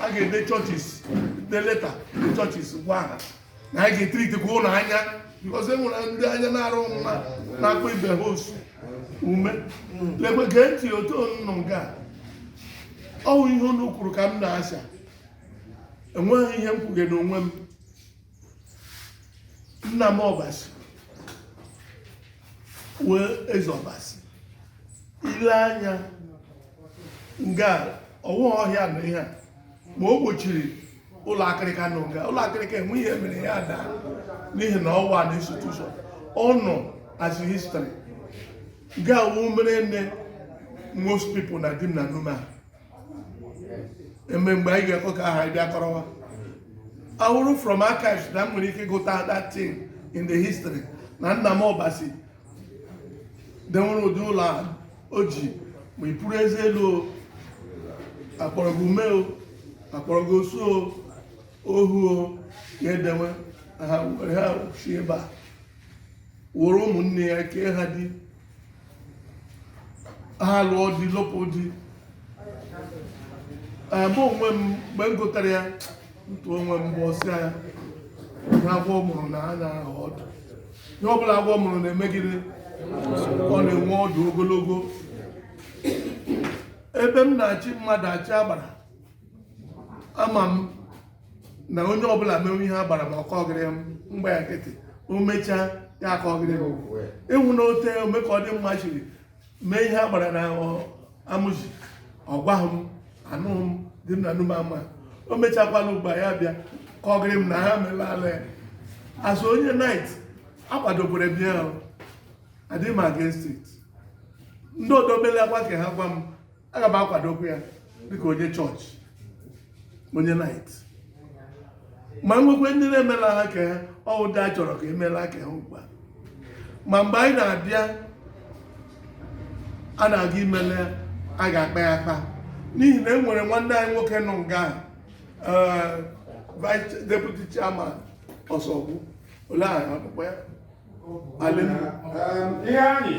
a ga-ede churches dee leta dee churches gwa ha na anyị ga-etiritikwa ụlọ anya because e nwere ndị anya na-arụ mma na-akpọ ibe ha osu ume lekwe gee ntị otu nnụ nga ọ wụ ihe unu kwuru ka m na-asha enweghị ihe m kwuge n'onwe m nna m ọbasi wee eze ọbasi ile anya nga ọ wụ ọhịa na ihe a ma o gbochiri ụlọ akịrịka nọ nga ụlọ akịrịka enwe ihe mere ya daa n'ihi na ọ wụ an institution ọ nọ as a history nga wụ ihe mere nne most people na Dim na Nume ha eme mgbe anyị ga-ekwe ka aha bịa kọrọwa awụrụ from archives na m nwere ike gụta that thing in the history na nna m ọbasi dewere ụdị ụlọ a o ji ma i puru eze elu o a kpọrọ gị ume o a kpọrọ gị osu o ohu o ya edewe ha were ha si ebe a wụrụ ụmụnne ya kee ha di ha lụọ di lụpụ di Ee, mụ onwe m mgbe m gụtara ya ntụ onwe m Igbo sị na ihe agwọ mụrụ na a na-ahụ ọdụ ihe ọbụla agwọ mụrụ na-eme gịrị ọ na-enwe ọdụ ogologo ebe m na-achị mmadụ achị agbara ama m na onye ọbụla mewe ihe agbara ma ọ kọgịrị m m gba ya nkịtị o mechaa ya akọgịrị m ịhụ na ote ome ka ọ dị mma shiri mee ihe agbara na Amụzi ọ gwaghị m anụghị m Dim na Nume ama o mechakwala ugbu a ya bịa kọgịrị m na ha mela ala ya asị onye knight akwadokwere bịa ahụ adịghị m against it ndị ọdọ melaakwa ke ha gwa m aga m akwadokwu ya dịka onye chọọchị onye knight ma nwekwe ndị na-emela ha ka ọ wụ ndị a chọrọ ka e mela ke ha ugbu a ma mgbe anyị na-abịa a na-aga imela ga-akpa ya akpa n'ihi na e nwere nwanne anyị nwoke nọ nga eh, vice deputy chairman ọsọgbu olee akpụkpọ ya ihe anyị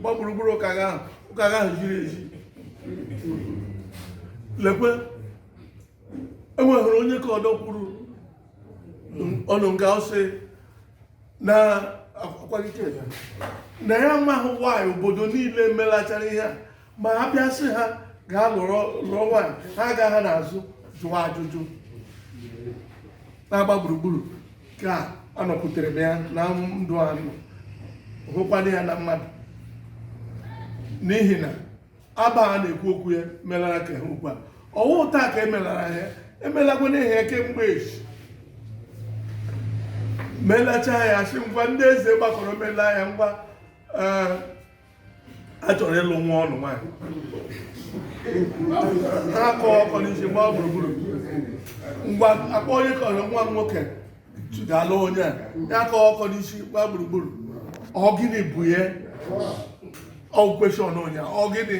gba gburugburu ụka gị ahụ ụka gị ahụ ziri ezi lekwe enweghịrị onye ke ọdọ kwuru ọnụ nga ọ sị na akwalite ya na ya amaghị nwaanyị obodo niile melachara ihe a ma a bịa sị ha gaa lụrụ lụọ nwaanyị ha agaghị n'azụ jụọ ajụjụ na-agba gburugburu ka ọ nọkwutere m ya na ndụ anụ hụkwana ya na mmadụ n'ihi na aba a na-ekwu okwu ya melara ka ha ugbu a ọ wụ taa ka emelara ya emelakwanụ ihe a kemgbe echi melacha ya a sị ngwa ndị eze gbakọrọ mela ya ngwa eh, a chọrọ ịlụ nwa ọnụ nwaanyị ha akọ ọkọ n'isi gbaa gburugburu ngwa akpọ onye kọrọ nwa nwoke ga-alụ onye a ya akọ ọkọ n'isi gbaa gburugburu ọ gịnị bụ ya ọ question onye ọ gịnị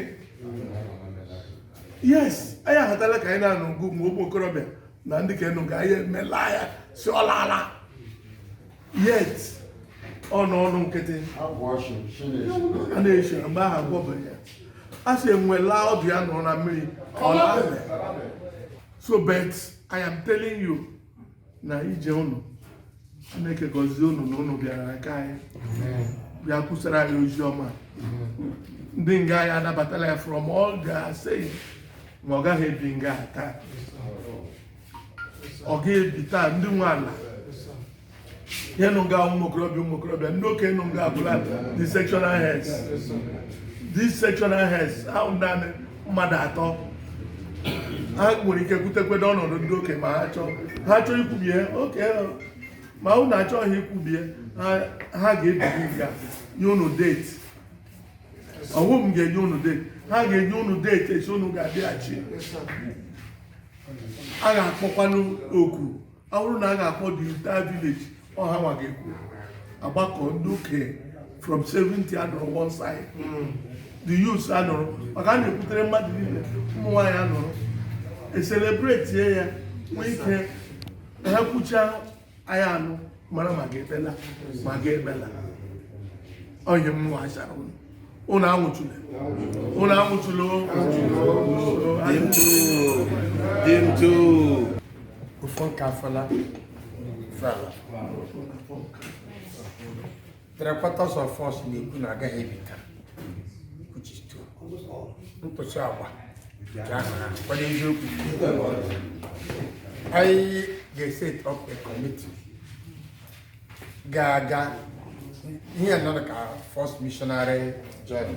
yes anyị ahatala ka anyị na-anụ ngụ ma ụmụ okorobịa na ndị okenye nọ nga anyị emela ya sị ọ lala yet ọ nọ ọnụ nkịtị a na-eche mgbe ahụ agwọbe ya a sị enwe laa ọdụ ya nọ na mmiri ọ labe so but i am telling you na ije unu chineke gọzie unu na unu bịara aka anyị bịa kwusara anyị ozi ọma ndị nga anyị anabatala ya from all ga say ma ọ gaghị ebi nga taa ọ ga-ebi taa ndị nwe ala ihe nọ nga ụmụ okorobịa ụmụ okorobịa ndị okenye nọ nga abụla the sectional heads these sectional heads ahụ naanị mmadụ atọ ha nwere ike kwutekwede ọnọdụ ndị okenye ma ha chọọ ha chọọ ikwubie okay ma unu achọghị ikwubie ha- ha ga-ebiri nga nye unu date ọ wụ m ga-enye unu date ha ga-enye unu date echi unu ga-abịaghachi a ga-akpọkwanụ oku ọ bụrụ na a ga-akpọ the entire village ọ ha nwa ga-ekwu agbakọ ndị okenye from 70 anọrọ one side the youths anọrọ maka a na-ekwutere mmadụ niile ụmụ nwaanyị anọrọ ecelebrate ya nwee ike na ha kwuchaa anyị anụ mara ma ga-ekpela ma ga-ekpela onye m nwa chara unu unu anwụchula unu anwụchula ụfọ nke afọla fela Three quarters of us na-ekwu na ọ gaghị ebi taa which is true. Nkwụsị agba nke ahụ na kwado eziokwu. Anyị ga-eset up a committee ga-aga ihe nnọọ dịka first missionary journey.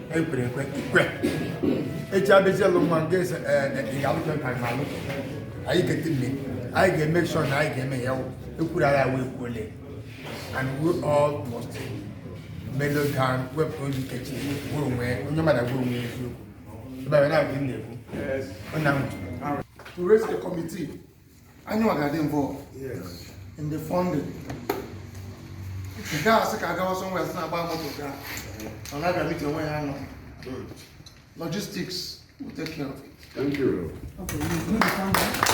ekwere ekwe ikwe echi abịazi alụ nwa nke ese ị ga-alụkwe nka ma alụ anyị ga-eti mme anyị ga-eme sure na anyị ga-eme ya ekwuru agha wee kwuole and we all must mellow down wepụ ozi nkechi gwụrụ onwe onye mmadụ gwụrụ onwe eziokwu ebe a na-agụ na-ekwu ọ na-ahụ to raise a committee anyị nwa ga-adị involved in the funding nke a sị ka a gawa somewhere sị na-agba moto gaa ọ na-abịa meeting onwe ya anọ logistics will take care of it Thank you. Okay, you do the funding.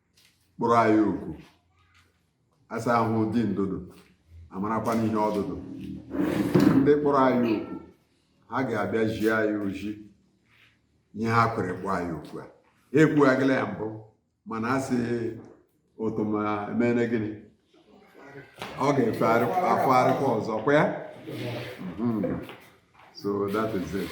kpọrọ anyị oku asa ahụ dị ndodo amarakwa n'ihe ọdụdụ ndị kpọrọ anyị oku ha ga-abịa zi anyị ozi ihe ha kwere kpọọ anyị oku a ekwughagịla ya mbụ mana a sị ụtụ ma emere gịnị ọ ga-efe afọ arịkwa ọzọ kwa ya hmm. so that is it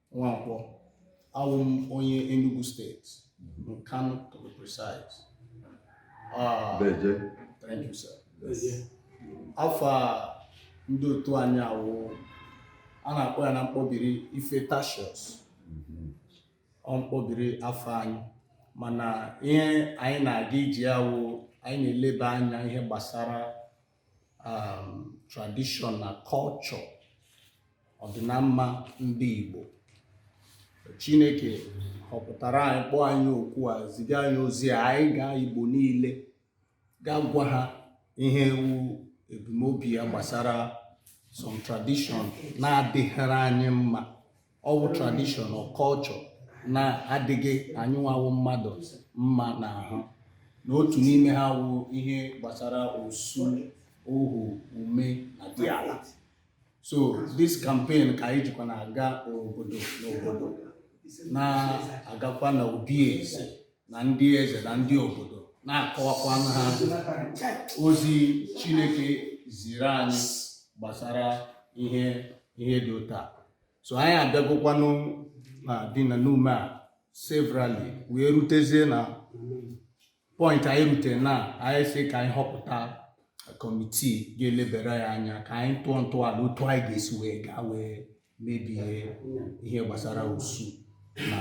Nwankwọ awụ m onye Enugu steeti Nkanu to be precise Ah, Deje. thank you sir afa ndị otu anyị awụ a na-akpọ ya na mkpọbiri Ifetacsios ọ mkpọbiri afa anyị mana ihe anyị na-aga iji awụ anyị na-eleba anya ihe gbasara um, tradition na culture ọdịnamma ndị Igbo Chineke họpụtara anyị kpọọ anyị oku a ziga anyị ozi a anyị gaa Igbo niile gaa gwa ha ihe wụ ebumnobi ya gbasara some tradition na-adịghịrị anyị mma ọ wụ tradition na culture na-adịghị anyị nwa wụ mmadụ mma n'ahụ na otu n'ime ha wụ ihe gbasara osu ohu ume na diala so this campaign ka anyị jikwa na-aga obodo n'obodo na-agakwa na obi eze na ndị eze na ndị obodo na-akọwakwa ha ozi Chineke ziri anyị gbasara ihe ihe dị otu a so anyị abịagokwanụ na Dim na Nume a severally wee rutezie na point anyị rute na anyị sị ka anyị họpụta kọmitii ga-elebere ya anya ka anyị tụọ ntọala otu anyị ga-esi wee gaa wee mebie ihe gbasara osu na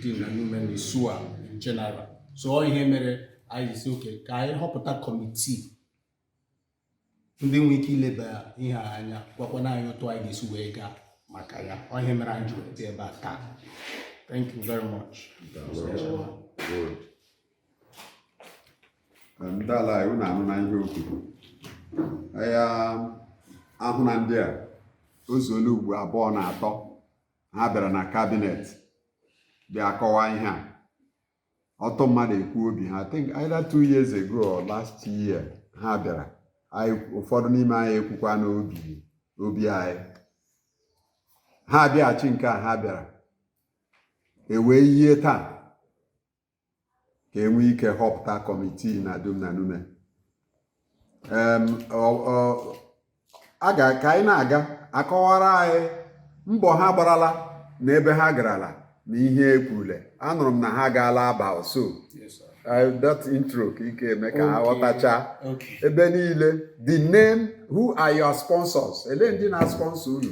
Dim na Nume na Isu a in general so ihe mere anyị sị okay ka anyị họpụta kọmitii ndị nwee ike ileba ihe a anya gwakwana anyị otu anyị ga-esi wee gaa maka ya ọ ihe mere anyị ji wee bịa ebe a taa thank you very much Good. Um, ndị ala anyị unu anụna ihe o kwuru ya ahụ na ndị a o zuola ugbo abụọ na atọ ha bịara na kabinet bịa kọwaa ihe a ọtụtụ mmadụ ekwu obi ha I think either two years ago or last year ha bịara ụfọdụ n'ime anyị ekwukwa n'obi obi anyị ha abịaghachi nke a ha bịara ewee yie taa ka enwee ike họpụta kọmitii na Dim na Nume a ga ka anyị na-aga akọwara anyị mbọ ha gbarala na ebe ha garala na ihe ekwurule anụrụ m na ha gaala Aba so that intro ka ike eme ka ha ghọtacha ebe niile the name who are your sponsors elee ndị na-sponsor unu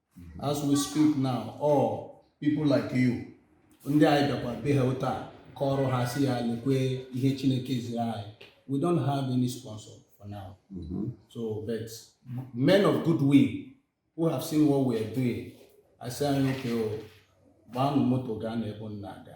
as we speak now or people like you ndị anyị bịakwa be ha taa kọọrọ ha sị ha lekwe ihe Chineke ziri anyị we don't have any sponsor for now mm -hmm. so but men of good will who have seen what we are doing asị anyị okay gbaanụ moto gaa n'ebe unu na-aga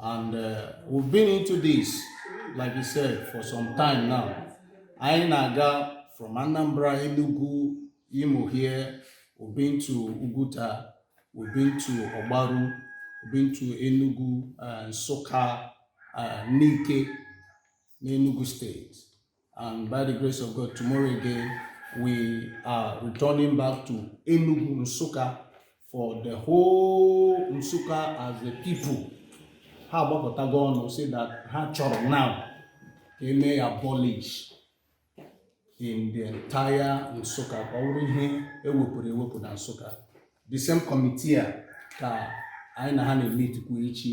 and uh, we've been into this like you said for some time now anyị na-aga from Anambra Enugu Imo here we've been to Uguta we've been to Ogbaru we've been to Enugu uh, Nsukka uh, Nike n'Enugu steeti And by the grace of God, tomorrow again, we are returning back to Enugu Nsukka for the whole Nsukka as a people. Ha agbakọtago ọnụ say that ha chọrọ now ka eme ya abolish in the entire Nsukka ka ọ bụrụ ihe ewepụrụ ewepụ na Nsukka. The same committee a ka anyị na ha na-emeetikwu echi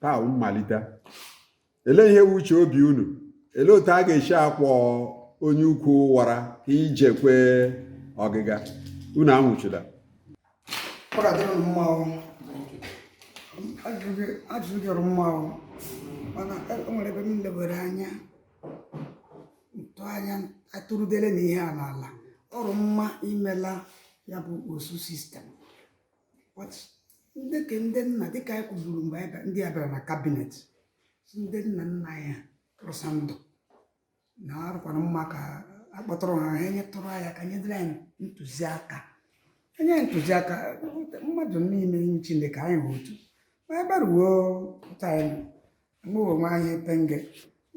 taa mmalite elee ihe wụ uche obi unu elee otu a ga-esi akwọ onye ukwu wara ka ije kwee ọgịga unu anwụchula ajụjụ gị ọ rụ mma mana e, o nwere ebe m lebere anya ntụanya atụrụdele na ihe a n'ala ọ rụ mma imela ya bụ osu system ndị ke ndị nna dịka anyị kwuburu mgbe ndị a bịara na cabinet ndị nna nna anyị rụsa ndụ na ọ rụkwara mma ka akpọtụrụ ha ha nyetụrụ anyị aka nyedịrị anyị ntụziaka enye ntụziaka mmadụ niile nye Chineke anyị hụ otu ma ebere uwe pụta anyị mgbe nwe anyị penge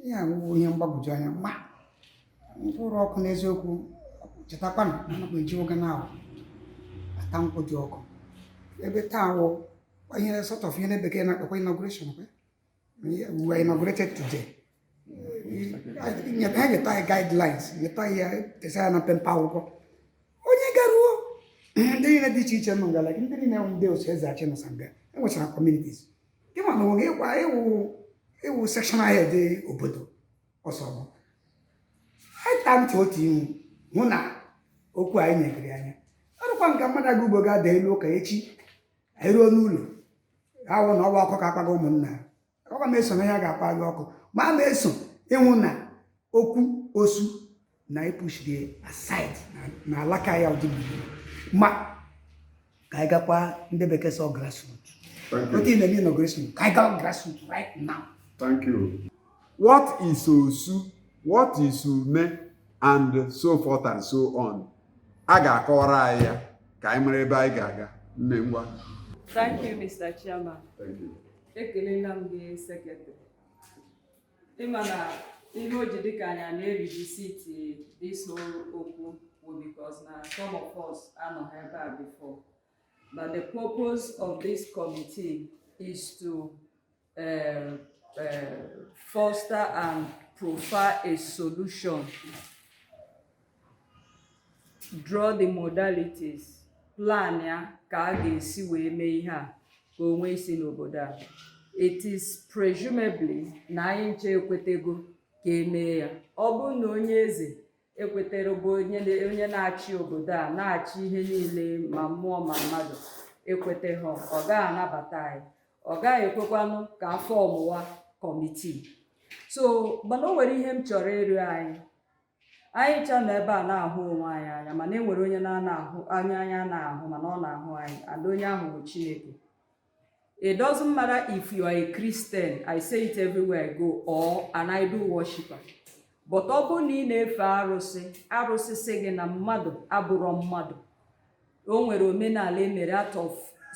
ihe awụwụ ihe mgbagwoju anya ma mkpụrụ ọkụ n'eziokwu chetakwanụ na anakwa eji oge na ahụ ata nkwụ dị ọkụ ebe taa wụ ihe sort of ihe ndị bekee na-akpọkwa inauguration kwe we were inaugurated today ha nyeta anyị guidelines nyeta anyị ya tesa ya na mpempe akwụkwọ onye garuo ndị niile dị iche iche nọ ngala ndị niile ndị otu eze achị nọsa nga enwechara communities ị ma na o nwe ịkwa ịwụ ịwụ sectional head obodo ọsọ bụ ịta ntị otu ihu hụ na okwu anyị nyegiri anya ọ rụkwa nke mmadụ aga ugbo ga-ada elu ụka echi anyị ruo n'ụlọ awụ na ọ wụ oku ka akpọga ụmụnna ọkwa m eso na ya ga-akpọ gị oku ma a na-eso ịhụ na okwu osu na ị pushiri e aside na alaka ya ọ dị mma ka anyị gakwa ndị bekee sị grassroot otu ile gị nọ grassroot ka anyị gawa grassroot right now thank you what is osu what is ume and so forth and so on a ga-akọwara anyị ya ka anyị mara ebe anyị ga-aga nne ngwa thank you mr chairman thank you ekelela m gị sekretrị ị ma na ihe o ji dịka anyị a na-erivisiti this whole okwu bụ because na some of us anọghị ebe a before but the purpose of this committee is to uh, uh, foster and proffer a solution draw the modalities plan ya ka a ga-esi wee mee ihe a ka o nwee isi n'obodo a it is presumably na anyị ncha ekwetego ka e mee ya ọ bụrụ na onye eze ekwetere bụ onye na-achị obodo a na-achị ihe niile ma mmụọ ma mmadụ ekwetaha ọ gaghị anabata anyị ọ gaghị ekwekwanụ ka a fọọmụwa kọmitii so mana o nwere ihe m chọrọ ịrịọ anyị anyị ncha nọ ebe a na-ahụ onwe anyị anya mana e nwere onye na-ana ahụ anya anya na-ahụ mana ọ na-ahụ anyị and onye ahụ bụ chineke it doesn't matter if you are a christian i say it everywhere i go or an idol worshiper but ọ bụrụ na ị na-efe arụsị arụsị sị gị na mmadụ abụrọ mmadụ o nwere omenala e mere out of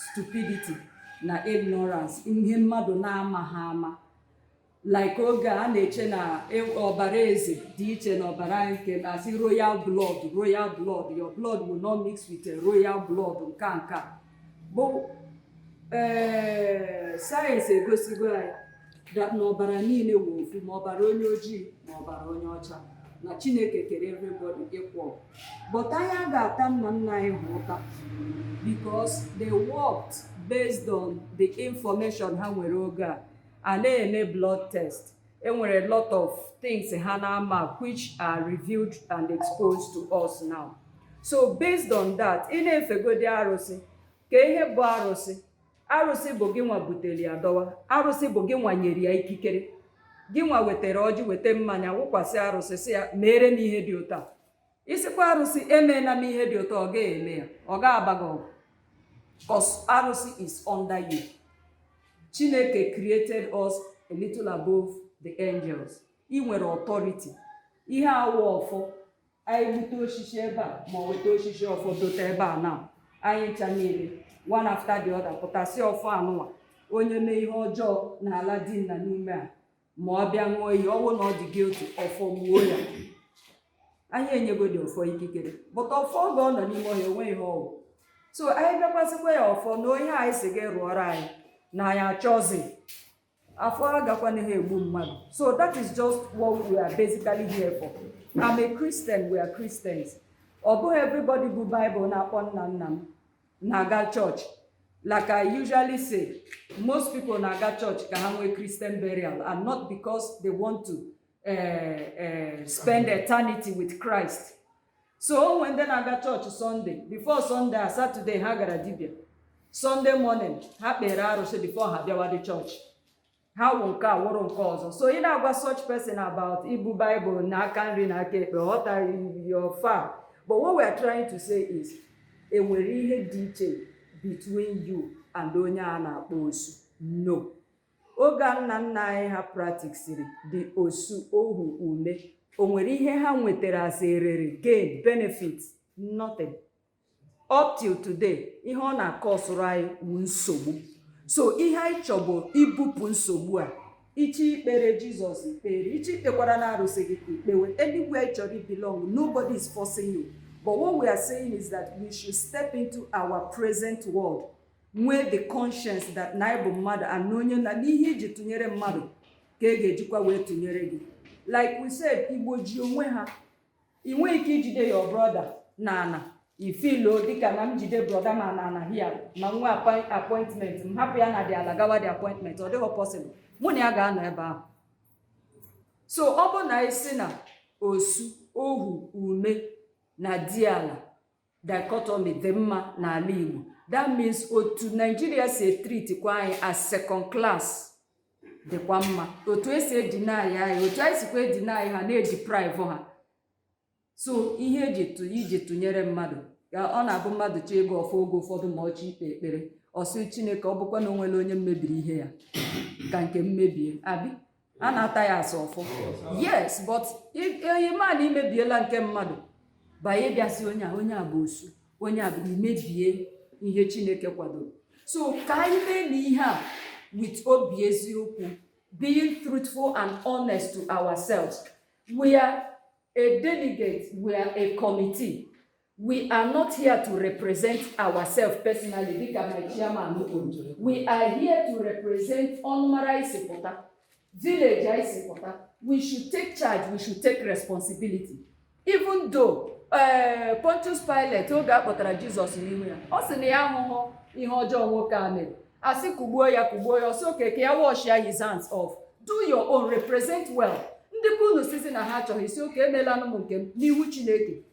stupidity na ignorance ihe mmadụ na-amaghị ama like oge a na-eche na e, ọbara eze dị iche na ọbara nke a na-asị royal blood royal blood your blood will not mix with a royal blood nke nke bụ ee eh, sayensị egosigo anyị na ọbara niile wụ ofu ma ọbara onye ojii ma ọbara onye ọcha na chineke kere everybody equal but anyị agaghị ata nna nna anyị ha ụta because they worked based on the information ha nwere oge a a na-eme blood test e nwere a lot of things ha na-amaghị which are revealed and exposed to us now so based on that ị na-efegodi arụsị kee ihe bụ arụsị arụsị bụ gị nwa butere ya dọwa arụsị bụ gị nwa nyere ya ikikere gị nwa wetara ọjị weta mmanya wụkwasị arụsị sị ya meere m ihe dị otu a ị sịkwa arụsị emena m ihe dị otu a ọ gaghị eme ya ọ ga-aba gị ọgụ cos arụsị is under you chineke created us a little above the angels ị nwere authority ihe a wụ ọfọ anyị bute osisi ebe a ma ọ weta osisi ọfọ dote ebe a na anyị ncha niile one after the other pụta sị ọfọ anụwa onye mee ihe ọjọọ n'ala dị na n'ime a ma ọ bịa ṅụọ iyi ọ wụ na ọ dị guilty ọfọ gbuo ya anyị enyegodi ọfọ ikikere but ọfọ oge ọ nọ n'ime ọhịa enweghị ihe ọ wụ so anyị bịakwasịkwa ya ọfọ na onye anyị si gị rụọrọ anyị na anyị achọzi ọfọ agakwana ha egbu mmadụ so that is just what we are basically here for I'm a Christian we are Christians ọ bụghị everybody bu Bible na-akpọ nna nna m na-aga church like i usually say most people na-aga church ka ha nwee christian burial and not because they want to eh, eh, spend eternity with christ so o nwee ndị na-aga church sunday before sunday a saturday ha gara dibịa sunday morning ha kpere arụsị before ha bịawa the church ha wụ nke a wụrụ nke ọzọ so ị na-agwa such person about ibu Bible na aka nri na aka ekpe ọ tara your far but what we are trying to say is enwere ihe dị iche between you and onye a na-akpọ osu no oge nna nna anyị ha practicesiri the osu ohu ume o nwere ihe ha nwetara as erere gain benefit nothing up till today ihe ọ na-akọsụrụ anyị wụ nsogbu so ihe anyị chọ bụ ibupụ nsogbu a ị chọ ikpere jizọs i kpere ị chọ ikpekwara na arụsị gị i kpewe anywhere ị chọrọ belong nobody is forcing you but what we are saying is that we should step into our present world nwee the conscience that na ị bụ mmadụ and onye na n'ihe iji tụnyere mmadụ ka e ga-ejikwa wee tụnyere gị like we said igbo ji onwe ha ị nweghị ike ijide your brother na ana ifilo dịka na m jide brother m a na ana here ma nwee appointment m hapụ ya na the ala gawa the appointment ọ dịghị possible mụ na ya ga-anọ ebe ahụ so ọ bụ na ị sị na osu ohu ume na diala dichotomy dị mma n'ala Igbo that means otu Naijiria si etreat kwa anyị as second class dịkwa mma otu esi edeny anyị otu anyị sikwa edeny ha na-edeprive ha so ihe iji tụnyere mmadụ ka ọ na-abụ mmadụ chọọ ịgọ ọfọ oge ụfọdụ ma ọ chọọ ikpe ekpere ọ sị chineke ọ bụkwa na onwere onye m mebiri ihe ya ka nke m mebie abi a na-ata ya asọ ọfọ yes but ị ma na imebiela nke mmadụ by ịbịa sị onye a onye a bụ osu onye a bụ imebie ihe chineke kwadoro so ka anyị mee na ihe a with obi eziokwu being truthful and honest to ourselves we are a delegate we are a committee We are not here to represent ourselves personally dịka my chairman kwuru. We are here to represent ọnụmara anyị si pụta, village anyị si pụta. We should take charge, we should take responsibility. Even though uh, Pontius Pilate oge a kpọtara Jizọs n'ihu ya, ọ sị na ya ahụhụ ihe ọjọọ nwoke a mere. A sị kugbuo ya kugbuo ya, ọ sị okay ka ya wash ya his hands off. Do your own, represent well. Ndị be unu sizi na ha achọghị iso, okay, emelanụ m nke m n'ihu Chineke.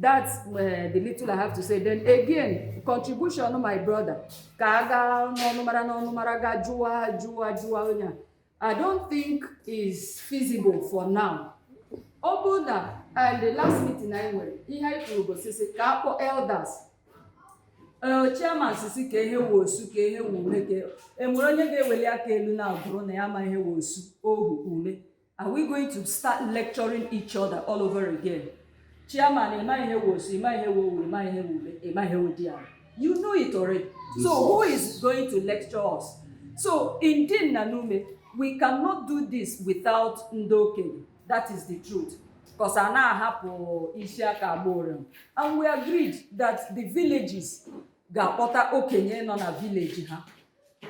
that's the little I have to say then again contribution my brother ka a gaa n'ọnụmara n'ọnụmara gaa jụwa jụwa jụwa onye a I don't think is feasible for now ọbụna and the last meeting anyị nwere ihe anyị kwuru bụ sị sị ka a kpọọ elders ee chairman sị sị kaa ihe wụ osu kaa ihe wụ ume ka enwere onye ga-eweli aka elu na agụrụ na ya ma ihe wụ osu ohu ume Are we going to start lecturing each other all over again? Chairman, ị ma ihe wụ osu, ị ma ihe wụ ohu, ị ma ihe wụ ume, ị ma ihe wụ diala. You know it already. So who is going to lecture us? So in Dim na Nume, we cannot do this without ndị okenye. That is the truth. Because a na-ahapụ isi aka agba ụrịọm. And we agreed that the villages ga-akpọta okenye nọ na village ha.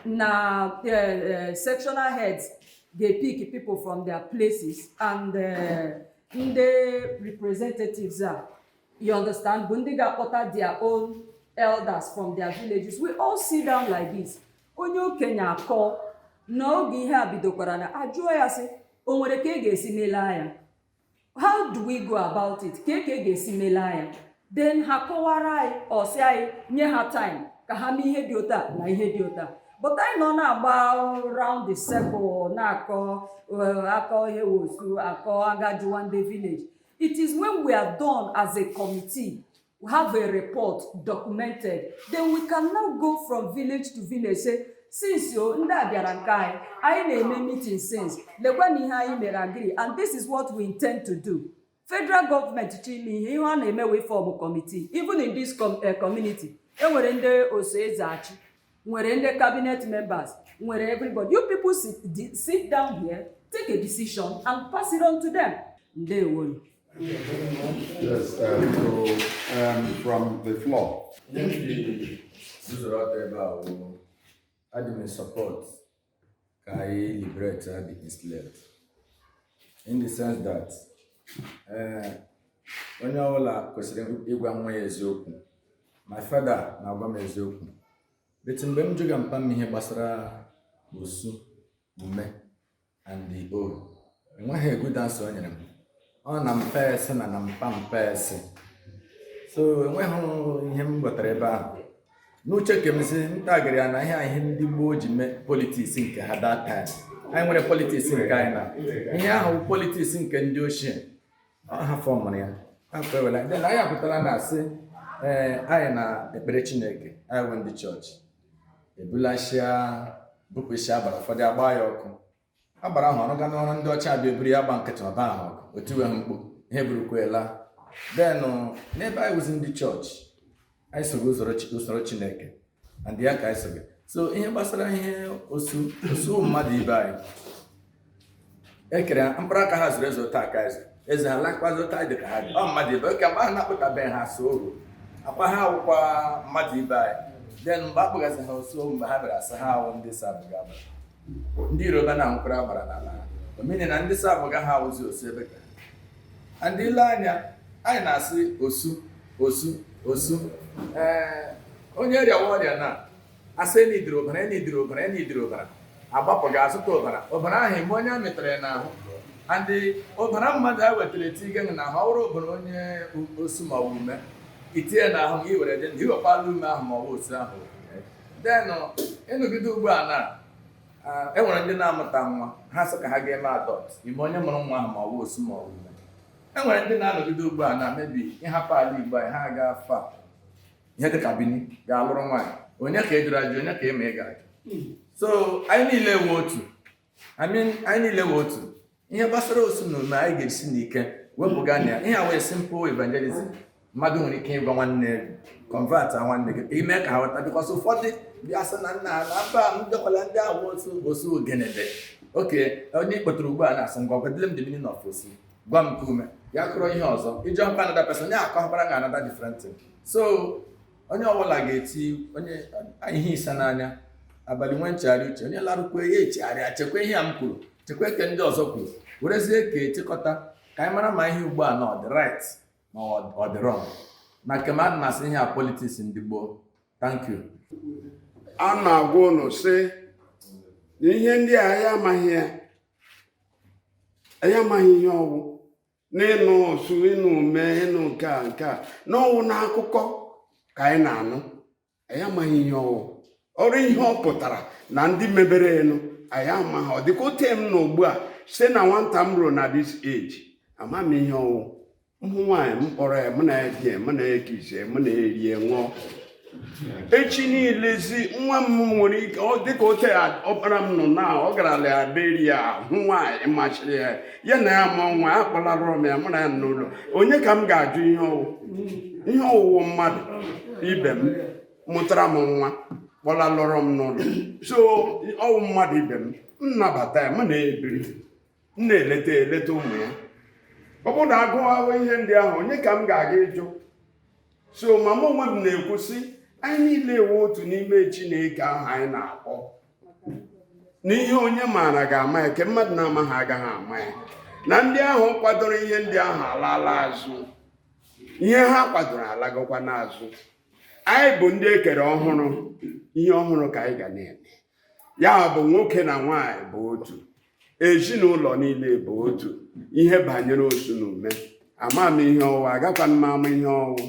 na uh, uh, sectional heads ga-epick people from their places and uh, ndị representatives a you understand bụ ndị ga-akpọta their own elders from their villages we all sit down like this onye okenye akọọ na oge ihe a bidokwara na a jụọ ya sị o nwere ka ị ga-esi mela ya how do we go about it kee ka a ga-esi mela ya then ha kọwara anyị ọ sị anyị nye ha time ka ha mee ihe dị otu a na ihe dị otu a but anyị nọ na-agba round the circle na-akọ eh, akọ ihe wụ osu akọ a gaa jụwa ndị village it is when we are done as a committee we have a report documented then we can now go from village to village say since o ndị a bịara nke anyị anyị na-eme meeting since lekwa na ihe anyị mere agree and this is what we intend to do federal government chọọ ime ihe ihe ha na-eme wụ ịform committee even in this com eh, community enwere ndị oso eze achị nwere ndị cabinet members nwere everybody you people sit, di- sit down here take a decision and pass it on to them ndewo Yes, um, so, um, from the floor. Ndị zụrụ ọtọ ebe a wụ adị m in support ka anyị liberate the enslaved in the sense that eh, onye ọbụla kwesịrị ịgwa nwa ya eziokwu my father na-agwa m eziokwu but mgbe m jụga mpa m ihe gbasara osu ume and the all enweghị a good answer o nyere m ọ na mpa ese na na mpa mpa ese so enweghị ihe m ghọtara ebe ahụ n'uche ke m sị m tagịrị ya na ihe ihe ndị gboo ji mee politics nke ha that time anyị nwere politics nke anyị na ihe ahụ politics nke ndị ochie ha fọmụrụ ya afọ ewela then anyị apụtara na asị ee eh, anyị na ekpere chineke anyị wụ ndị chọọchị ebulasịa bupụsịa agbara ụfọdụ agba ya ọkụ agbara ahụ ọrụ ga n'ọrụ ndị ọcha bịa eburu ya gba nkịtị ọba ahụ ọkụ otiwe ha mkpu ihe burukwela then uh, n'ebe anyị wụzi ndị chọọchị anyị sogo usoro chi- usoro chineke and ya ka anyị sogo so ihe gbasara ihe osu osu mmadụ ibe anyị ekere ha mkpụrụ aka ha zuru ezu taa ka eze eze ha lakwazi ụta dị ka ha dị ọ mmadụ ibe okay mgbe ha na-akpọtabeghị ha osu oru akwa ha awụkwa mmadụ ibe anyị then mgbe akpọgasị ha osu mgbe ha bịara asị ha awụ ndị sabụga agba ndị Yoruba na-anwụkwara agbara n'ala ọ mean na ndị sabụga ha awụzi osu ebe ka ha ndị ile anya anyị na-asị osu osu osu ee onye rịawa ọrịa na asị e nidiri ọbara e nidiri ọbara e nidiri ọbara agbapụ gaa zụta ọbara ọbara ahụ ị ma onye a mịtara ya n'ahụ and ọbara mmadụ a wetara etii gị n'ahụ ọ wụrụ ọbara onye osu ma ọ bụ ume etinye na ahụ gị were dị ndụ ị wụkwala ume ahụ ma ọ bụ osu ahụ then ị nọgide ugbu a na ah, e nwere ndị na-amụta nwa ha sị ka ha ga-eme adopt ị ma onye mụrụ nwa ahụ ma ọ bụ osu ma ọ bụ ume e nwere ndị na-anọgide ugbu a na maybe ịhapụ ala igbo anyị ha agafa ihe dịka Bini gaa lụrụ nwaanyị onye ka ị jụrụ ajụ onye ka ị ma ị ga-ajụ so anyị niile wụ otu I mean, anyị niile wụ otu ihe gbasara osu na ume anyị ga-esi n'ike wepụga na ya ihe a wụ simple evangelism mmadụ nwere ike ịgwa nwanne ya convertịa nwanne gị ime ka ha ghọta because ụfọdụ ndị asị na nna ala mba m bịakwala ndị ahụ wụ osu ọ gịnị dị okay onye ị kpọtụrụ ugbu a na sị ngwa gwadile m the meaning of osu gwa m nke ume ya akọọrọ ihe ọzọ ị jụọkwa another person ya akọọkwara gị another different thing so onye ọbụla ga-eti onye ihe isa n'anya abalị nwe nchegharị uche onye larukwa ya echegharịa chekwa ihe a m kwuru chekwa ke ndị ọzọ kwuru werezie ka echekọta ka anyị mara ma ihe ugbu a na ọ dị right ma ọ dị wrong ma nke m adị m asị ihe a politics ndị gboo thank you a na-agwa ụnụ sị na ihe ndị a anyị amaghị ya anyị amaghị ihe ọwụ n'ịnụ osu ịnụ ume ịnụ nke a nke a na ọwụ n'akụkọ ka anyị na-anụ anyị amaghị ihe ọwụ or ihe ọ pụtara na ndị mebere ya nụ anyị amaghị ọ dịka otu m nọ ugbu a site na nwata m ruo na this age ama m ihe ọwụ m hụ nwaanyị m kpọrọ ya mụ na ya edie mụ na ya ekisie mụ na ya erie ṅụọ echi niilezi nwa m nwere ike dịka ote ọkpara m nọ na ọ gara Liberia hụ nwaanyị masịrị ya ya na ya mụọ nwa ya kpọlalụrọ m ya mụ na ya n'ụlọ onye ka m ga-ajụ ihe ọ wụ ihe ọ wụ wụ mmadụ ibe m mụtara m nwa kpọlalụrọ m n'ụlọ so ọ wụ mmadụ ibe m m nabata ya mụ na ya ebiri m na-eleta eleta ụmụ ya ọ bụrụ na a gụwawa ihe ndị ahụ onye ka m ga-aga ịjụ so ma mụ onwe m na-ekwu sị anyị niile ewe otu n'ime chineke ahụ anyị na-akpọ na ihe onye maara ga-ama ya ke mmadụ na-amaghị agaghị ama ya na ndị ahụ kwadoro ihe ndị ahụ alaala azụ ihe ha kwadoro alagokwa n'azụ anyị bụ ndị e kere ọhụrụ ihe ọhụrụ ka anyị ga na-eme ya bụ nwoke na nwaanyị bụ otu ezinụlọ niile bụ otu ihe banyere osu na ume ama m ihe ọ wụ agakwa m ama ihe ọ wụ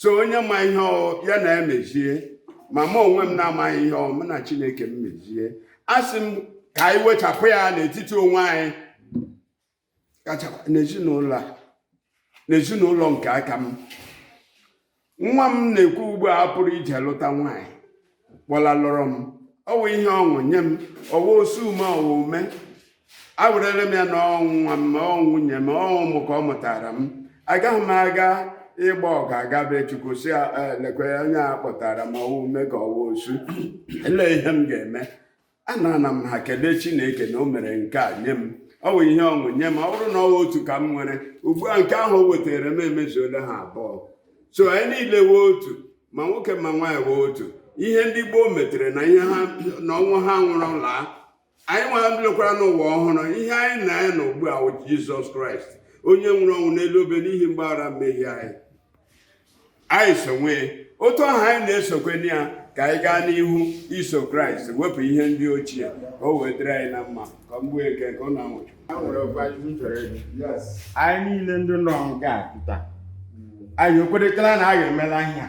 so onye ma ihe ọ wụ ya na ya mezie ma mụ onwe m na-amaghị ihe ọ wụ mụ na chineke m mezie asị m ka anyị wechapụ ya n'etiti onwe anyị kachakwa n'ezinụlọ n'ezinụlọ nke aka m nwa m na-ekwu ugbu a pụrụ ije lụta nwaanyị kpọlalụrụ m ọ wụ ihe ọṅụ nye m ọ wụ osu ume ọ wụ ume ewerele m ya na ọ nwa m ọ nwunye m ọ ụmụ ka ọ mụtara m agaghị m aga ịgba ọga aga be chukwu sị lekwe onye a kpọtara m ọ wụ ume ka ọ wụ osu ele ihe m ga-eme anana m ha kelee chineke na o mere nke a nye m ọ wụ ihe ọṅụ nye m ọ wụrụ na ọ wụ otu ka m nwere ugbu a nke ahụ o wetara m emezuola ha abụọ so anyị niile wee otu ma nwoke ma nwaanyị wee otu ihe ndị gboo metere na ihe ha na ọnwụ ha nwụrụ laa anyị nwa lekwara n'ụwa ọhụrụ ihe anyị na ya nọ ugbu a wụ jizọs kraịst onye nwụrụ ọnwụ n'elu obe n'ihi mgbaghara mmehie anyị anyị sowe otu ahụ anyị na-esokwe na ya ka anyị gaa n'ihu iso kraịst wepụ ihe ndị ochie ka o wee dịrị anyị na mma ka mgbu eke ka ọ na-anwụchụ anyị niile ndị nọ nga pụta anyị ekweretala na anyị emela ihe a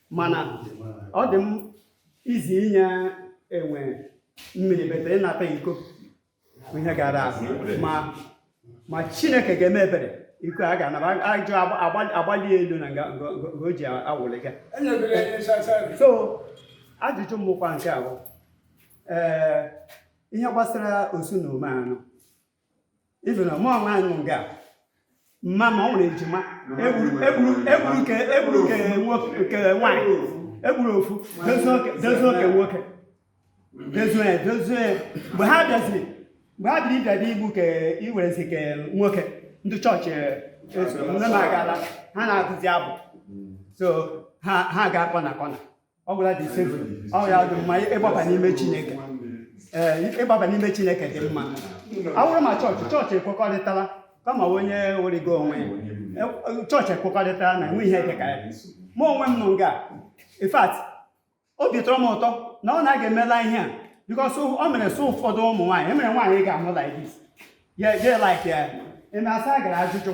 mana ọ dị m easy inye enwe mmiri but ịnata iko ihe ga-ara ahụ ma chineke ga-eme ebere iko a ga-anaba ajụ agbali elu na nga o ji awụli ga so ajụjụ m bụkwa nke a wụ ee ihe gbasara osu na ume anụ even mụ onwe m nọ nga mama m nwere ejima egburu ke nwaanyị egburu ofu dozie ke nwoke dozie ya dozie ya mgbe ha bịaziri mgbe ha biri ịbịa dị igbu ke iwerezi ke nwoke ndị chọọchị eso ndị na-agala ha na-agụzi abụ so ha ha ga-akpọ na kọna ọ gwara dị ise ọ ya dị mma ịgbaba n'ime chineke ee ịgbaba n'ime chineke dị mma ọ wụrụ ma chọọchị chọọchị ekwekọrịtala kama onye werigo onwe ya chọọchị ekwekọrịtala na enwe ihe dịka ya mụ onwe m nọ nga in fact obi tọrọ m ụtọ na a naghị emela ihe a because ọ mere so ụfọdụ ụmụ nwaanyị emere nwaanyị ga-amụ like this ya like ya eme asa gara ajụjụ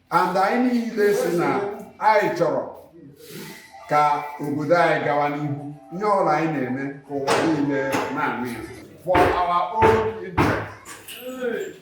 and anyị niile sị na anyị chọrọ ka obodo anyị gawa n'ihu ihe ọbụla anyị na-eme ka ụwa niile na-anụ ya for our own interest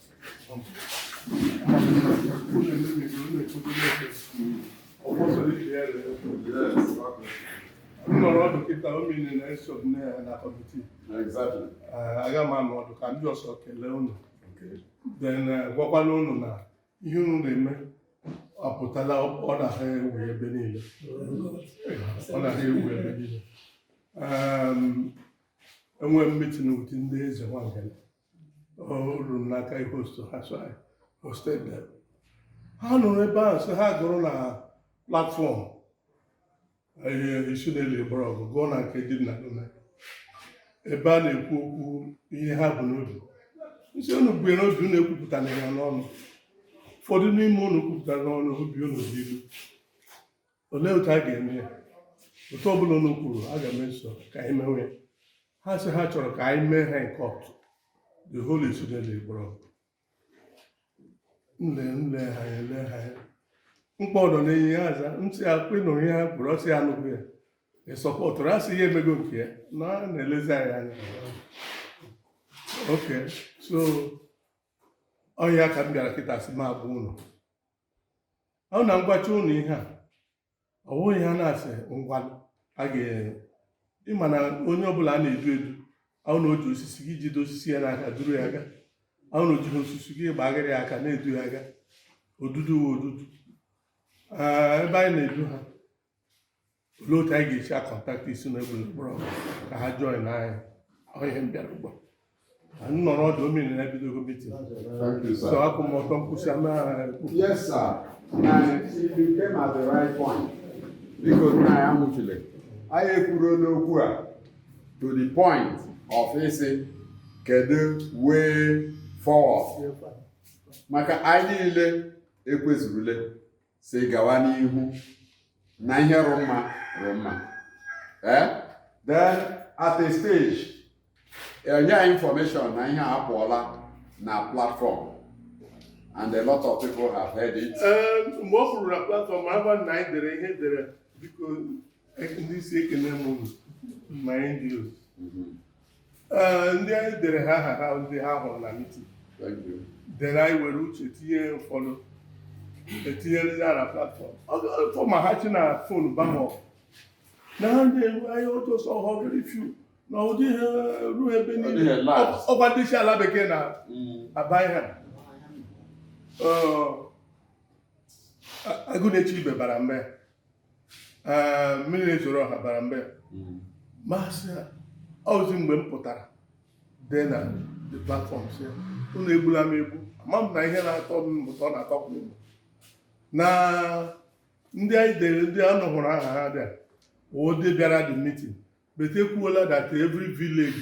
nọrọ ọdụ kịta ọ mean na eso m na- na kọmitii Exactly. Eh, aga m anọ ọdụ ka m bu ụzọ kelee unu Okay. then eh, gwakwana unu na ihe unu na-eme apụtala ọ na-ahụ ewu ebe niile ọ na-ahụ ewu ebe niile Em, enwe m meeting with ndị eze nwangele o ruru m n'aka ịhost ha so I hosted them. ha nọrọ ebe ahụ sị ha gụrụ na platform ihe isi na-eli gbara ọgụ gụọ na nke dị na gome ebe a na-ekwu okwu ihe ha bu n'obi m sị unu bu ya n'obi unu ekwupụtara ya n'ọnụ ụfọdụ n'ime unu kwupụtara n'ọnụ obi unu dị ilu olee otu a ga-eme ya otu ọbụla unu kwuru aga m eso ka anyị mewe ya ha sị ha chọrọ ka anyị mee ha nke ọtụ the whole student gbọrọ nle nle ha ya ele ha ya mkpa ọdọ na-enye ya aza m sị ya ị nụrụ ihe ha kwuru ọ sị ya anụghị ya ị sọpọtụrụ a sị ya emego nke ya na a na-elezi anyị anya okay so ọ wụ ya ka m bịara kịta sị m gwa unu ọ wụ na m gwacha unu ihe a ọ wụ ihe a na-asị ngwa a ga-ere ị ma na onye ọbụla a na-edu edu ọ wụ na o ji osisi gị jide osisi ya n'aka duru ya aga ọ wụ na o jighị osisi gị gbagharị ya aka na-edu ya aga odudu wụ odudu Ee, ebe anyị na-edu ha olee otu anyị ga-esi akọntaktị isi na egbe mkpọrọ ka ha join anyị onye m bịara ugbu a anyị nọrọ ọdụ omi na ebidogo mitin Thank you, so sir. akwụ m ọtọ mkpụsị ama Yes, sir. And you came at the right point. Biko nna ya nwụchiri. Anyị ekwuruola okwu a to the point of ịsị kedu way forward. Maka anyị niile ekwezurule. sị gawa n'ihu na ihe rị mma rị mma eh? then at a stage e nye anyị information na ihe apụọla na platform and a lot of people have heard it. Eh, mgbe o kwuru na platform agba na anyị dere ihe dere biko ndị isi ekene m unu ma ndị otu Ee, ndị anyị dere ha aha ha ndị ha hụrụ na mitin Thank you. then anyị were uche tinye ụfọdụ e tinyere ya na platfọm ọtọ ma ha chi na fon bama ọgụ na ha na-enwe anyị otu ọsọ ọhụrụ very few na ụdị ha ruo ebe Ọ dịghị niile last. ọ kwa ndị isi ala bekee na Mm. abaghị ha Ọ, a- anwụ na-echi ibe bara mbe ee mmiri na-ezoro ọha bara mbe Mm. m asị ya ọzi mgbe m pụtara dee na the platform sị ya unu egbula m egbu ama m na ihe na-atọ m ụtọ na-atọ m ụtọ na ndị anyị dere ndị unu hụrụ aha ha ndị a wụ ndị bịara the meeting but e kwuola that every village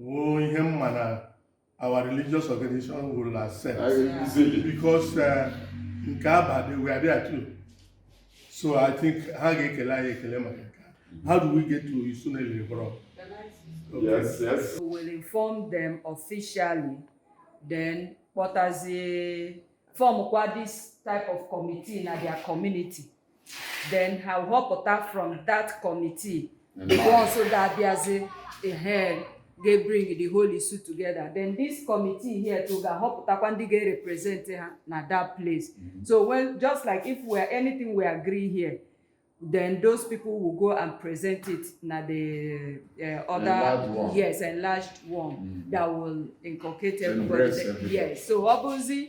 wụ ihe mma na our religious organization will accept because uh, nke Aba they were there too so i think ha ga-ekele anyị ekele maka nke how do we get to isuneliri bro okay. yes yes we will inform them officially then kpọtazie form kwa this type of committee na their community then ha họpụta from that committee once ga-abịazi ehe ga-ebring the whole issue together then this committee here to ga-ahọpụtakwa ndị ga-represent ha na that place so when just like if we are anything we agree here then those people will go and present it na the uh, other Enlarged one. yes enlarged one Mm. that will inculcate everybody Embrace there. everybody. yes so ọ bụzi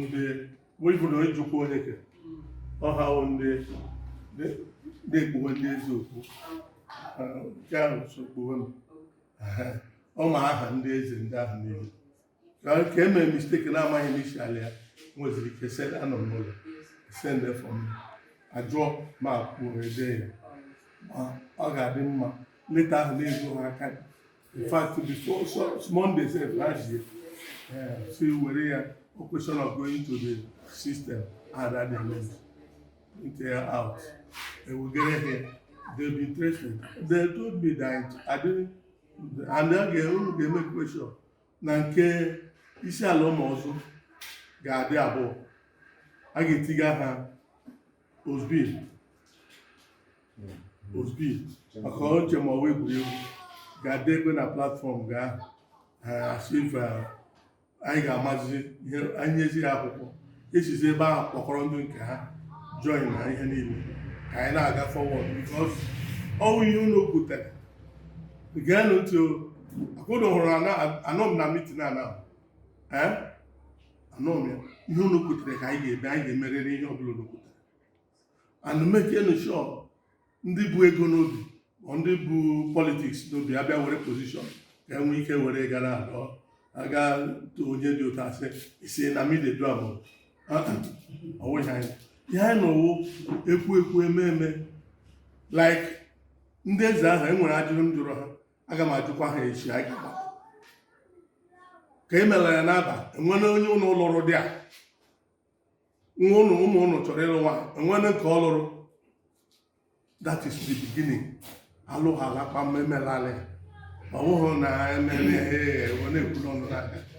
ndị webụrụ ejikwa onye ke ọ ha wụ ndị na-ekpuwe ndị eze okpu nke ahụ so kpuwe m ọ ma aha ndị eze ndị ahụ niile ka e mere mistake na amaghị m isi ala ya nweziri ike send anọ m n'ụlọ send for me ajụọ ma kwuo ede ya ma ọ ga-adị mma leta ahụ na-ezu ha aka in fact before so, Monday sef last year uh, so were a question of going to the system and at the end until uh, out and we get here they be tracing they told me that I didn't and then they only dey make question na nke isi ala ụmụ ọzọ ga-adị abụọ a ga-etiga ha Ozbi. Ozbi. Maka o che ma ọ wụ egwuregwu ga-adị ebe na platform ahụ as if anyị ga-amazi ihe anyị nyezi ha akwụkwọ esizi ebe ahụ kpọkọrọ ndị nke ha join na ihe niile ka anyị na-aga forward because ọ wụ ihe unu kwutere geenụ ntị o akwụna hụrụ anọ m na meeting a na anọ m ya ihe unu kwutere ka anyị ga-eme anyị ga-emerịrị ihe ọbụla unu kwutere and make nụ sure ndị bu ego n'obi ma ndị bu politics n'obi abịa were position ka e nwee ike were gara alọ aga onye dị ụtọ asị isi na mide du abụọ ọ wụghị anyị ihe anyị na ọ wụ ekwu ekwu eme eme like ndị eze ahụ e nwere ajụjụ m jụrụ ha aga m ajụkwa ha echi anyị ga-agbapụ ka e mere ya n'Aba e nwere onye ụnụ lụrụ dị a nwa ụnụ ụmụ ụnụ chọrọ ịlụ nwa e nwere nke ọ lụrụ that is the beginning alụ ha alakpa mmemme lalị ma ọ bụghị na ememe ha na-ekwuru ọnụ n'aka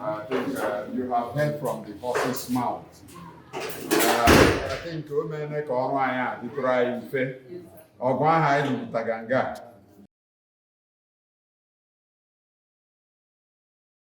I think uh, you have heard from the horse's mouth. Uh, I think o meela ka ọrụ anyị a dịtụrụ anyị mfe ọgụ ahụ anyị lụpụtaga nga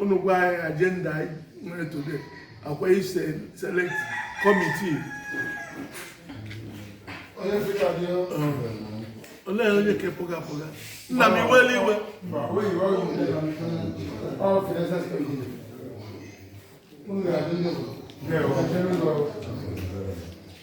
unu gwa anyị agenda anyị nwere today ọkwa ịselect committee olee onye ka pụga pụga nna m iwela iwe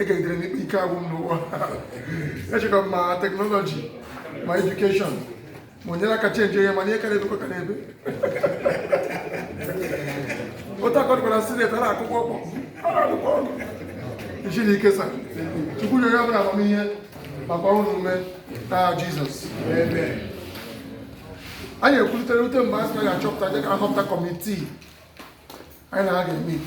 e gegidere n'ikpe ike agwụ m n'ụwa echekwa m ma technology ma education ma o nyere aka change ihe mana ihe ka na-ebekwa ka na-ebe otu akọdịkwara senate a na-akụkọ ọkpọ a na-akụkọ ọnụ isi na ike sa Chukwu nyere ya bụrụ amamihe maka ọrụ na ume na Jesus anyị ekwulitere ute mgbe a sị na anyị achọpụta dịka nhọpụta committee anyị na-aga emeet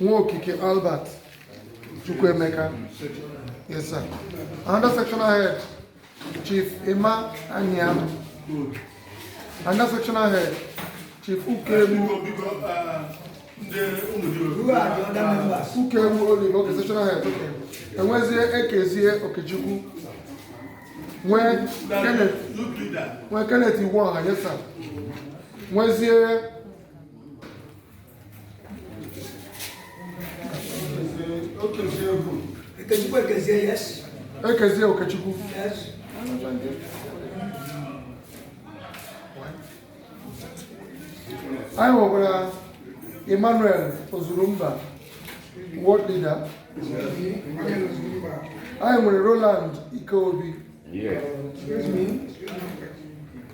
Nwokike Albert Chukwuemeka yes sir another sectional head chief Emma Anyam another sectional head chief Ukegbu Ukegbu Olive okay sectional head okay e nwezie Ekezie Okechukwu nwee Kenneth Iwuọha yes sir nwezie Okechukwu Ekezie, yes. Ekezie Okechukwu. Yes. anyị nwekwara Emmanuel Ozurumba ward leader anyị nwere Roland Ikeobi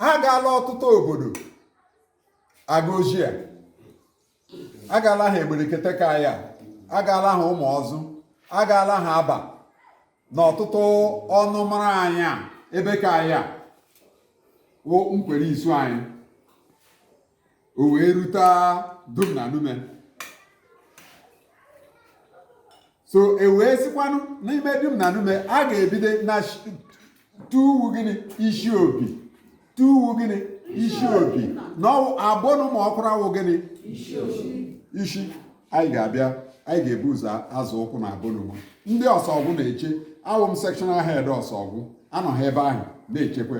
ha agaala ọtụtụ obodo aga ozi a agaala ha Egberekete ka ya agaala ha Ụmụọzụ agaala ha Abba na ọtụtụ ọnụmara anyị a ebe ka anyị a wụ Nkwere Isu anyị o wee rute Dim na Nume so e wee sikwanụ n'ime Dim na Nume a ga-ebido na tuwu gịnị isi obi tuwu gịnị isi obi na abụnụ ma Ọkwara wụ gịnị isi anyị ga-abịa anyị ga-ebu ụzọ azọ ụkwụ na abụnụwa ndị ọsọgwụ na-eche awụ m sectional head ọsọgwụ anọ ha ebe ahụ na-echekwa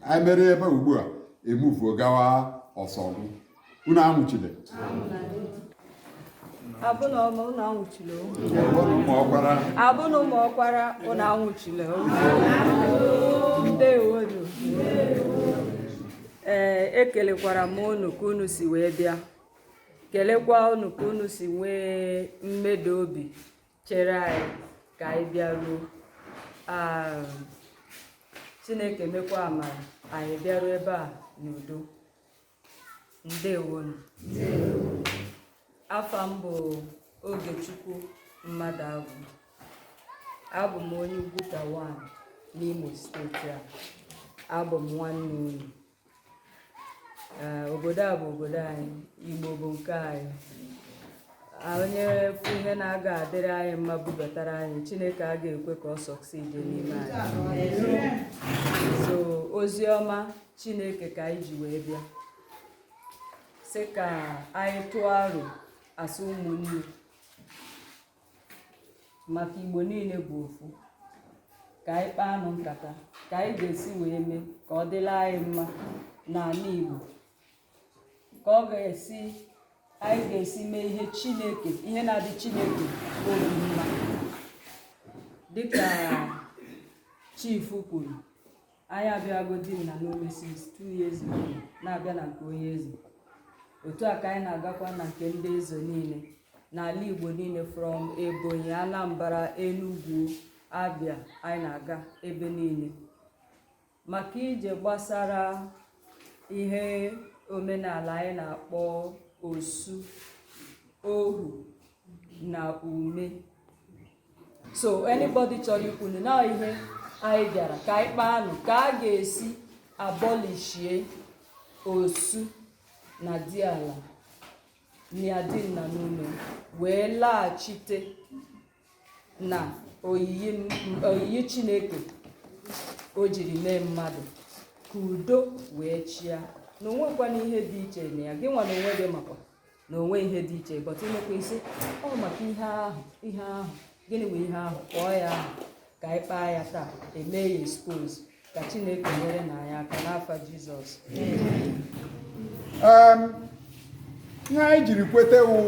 anyị mere ebe ugbu a emuvuo gawa ọsọgwụ unu anwụchile abụna ọma ụnụ anwụchile abụna Ụmụọkwara ụnụ anwụchile ndewonu ee ekelekwara m unu ka unu si wee bịa kelekwa unu ka unu si nwee mmeda obi chere anyị ka anyị bịaruo um, Chineke mekwa amara anyị bịaruo ebe a n'udo ndewonu afa m bụ Ogechukwu Mmadụagwụ abụ m onye Ugwuta 1 n'Imo steeti a abụ m nwanne unu obodo a bụ obodo anyị igbo bụ nke anyị onye fụ ihe na-aga adịrị anyị mma bubatara anyị chineke a ga-ekwe ka ọ succeed n'ime anyị so ozi ọma chineke ka anyị ji wee bịa sị ka anyị tụọ aro as ụmụnne maka igbo niile bụ ofu ka anyị kpaanụ nkata ka anyị ga-esi wee mee ka ọ dịla anyị mma n'ala igbo ka ọ ga-esi anyị ga-esi mee ihe chineke ihe na-adị chineke obi mma dịka chief kwuru anyị abịago dim na nume since two years ago na-abịa na nke onye eze otu a ka anyị na-agakwa na nke ndị eze niile n'ala igbo niile from ebonyi anambra enugwu abia anyị na-aga ebe niile maka ije gbasara ihe omenala anyị na-akpọ osu ohu na ume so anybody chọrọ ikwunụ na ihe anyị bịara ka anyị kpaanụ ka a ga-esi abọlishie osu na diala na dim na nume wee laghachite na oyiyi m- oyiyi chineke o jiri mee mmadụ ka udo wee chịa na o nwekwana ihe dị iche na ya gị nwa na onwe gị makwa na o nwe ihe dị iche but e mekwa ị sị ọ maka ihe ahụ ihe ahụ gịnị bụ ihe ahụ kpọọ ya aha ka anyị kpaa ya taa e mee ya expose ka chineke nyere na anyị aka n'afa jizọs ihe anyị jiri kweta wụ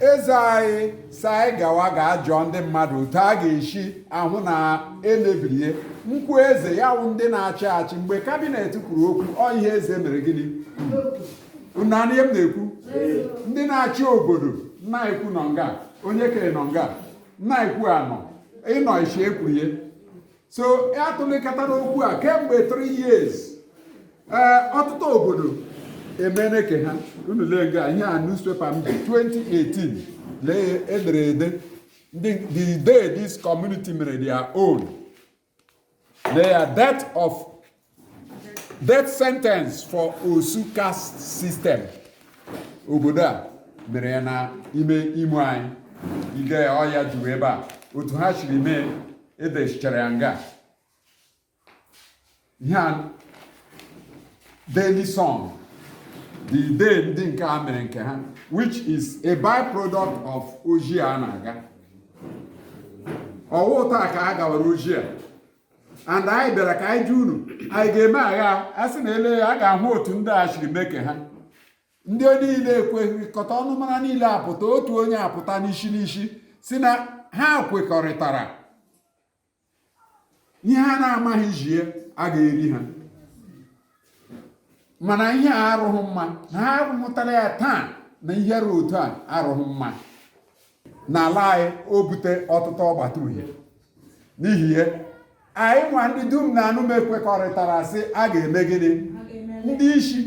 eze anyị sị anyị gawa gaa jụọ ndị mmadụ otu a ga-esi ahụ na e mebirie nkwu eze ya wụ ndị na-achị achị mgbe kabinet kwuru okwu ọ ihe eze mere gịnị na ihe m na-ekwu ndị na-achị obodo na-ekwu nọ nga onye kere nọ nga na-ekwu anọ ịnọ isi ekwuru ya so a tụlekọtara okwu a kemgbe 3 years ee ọtụtụ obodo emene nke ha unu lee nga ihe a newspaper m ji 2018 lee e dere ede the day this community mere their own Their death of death sentence for Osu caste system. Obodo a mere ya na ime imo anyị ide ọ ya juru ebe a otu ha siri mee e dechichara ya nga ihe a Daily Sun the day ndị nke a mere nke ha which is a byproduct of ozi a na-aga ọ wụ taa ka a gawara ozi a and anyị bịara ka anyị jụọ unu anyị ga-eme aghaa sị na ele ya a ga-ahụ otu ndị a siri mee nke ha ndị niile ekwekọta ọnụmara niile apụta otu onye apụta n'isi n'isi sị na ha kwekọrịtara ihe ha na-amaghị jie a ga-eri ha mana ihe a arụghị mma na ha ahụtala ya taa na ihe ruo otu a arụghị mma n'ala anyị o bute ọtụtụ ọgbata uhie n'ihi ihe anyị nwa ndị dim na nume kwekọrịtara sị a ga-eme gịnị ndị isi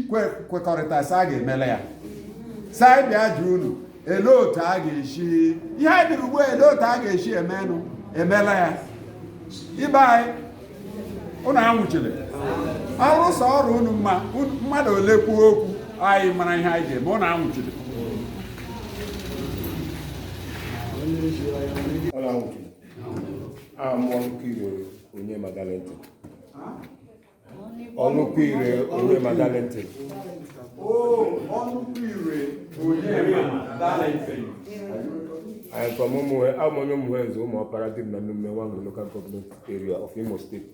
kwekọrịta sị a ga-emele ya sị anyị bịa jụ unu ele otu a ga-esi ihe anyị bịara ugbu a ele otu a ga-esi emenụ emela ya ibe anyị unu anwụchile ọrụ sọ ọrụ unu mma mmadụ ole kwuo okwu anyị mara ihe anyị ga-eme unu anwụchile I am Onukwuire Onyema Valentine Onukwuire Onyema Valentine I am from ụmụnwe abụ m onye ụmụnwe nze Ụmụọpara Dim na Nume Nwangele local government area of Imo State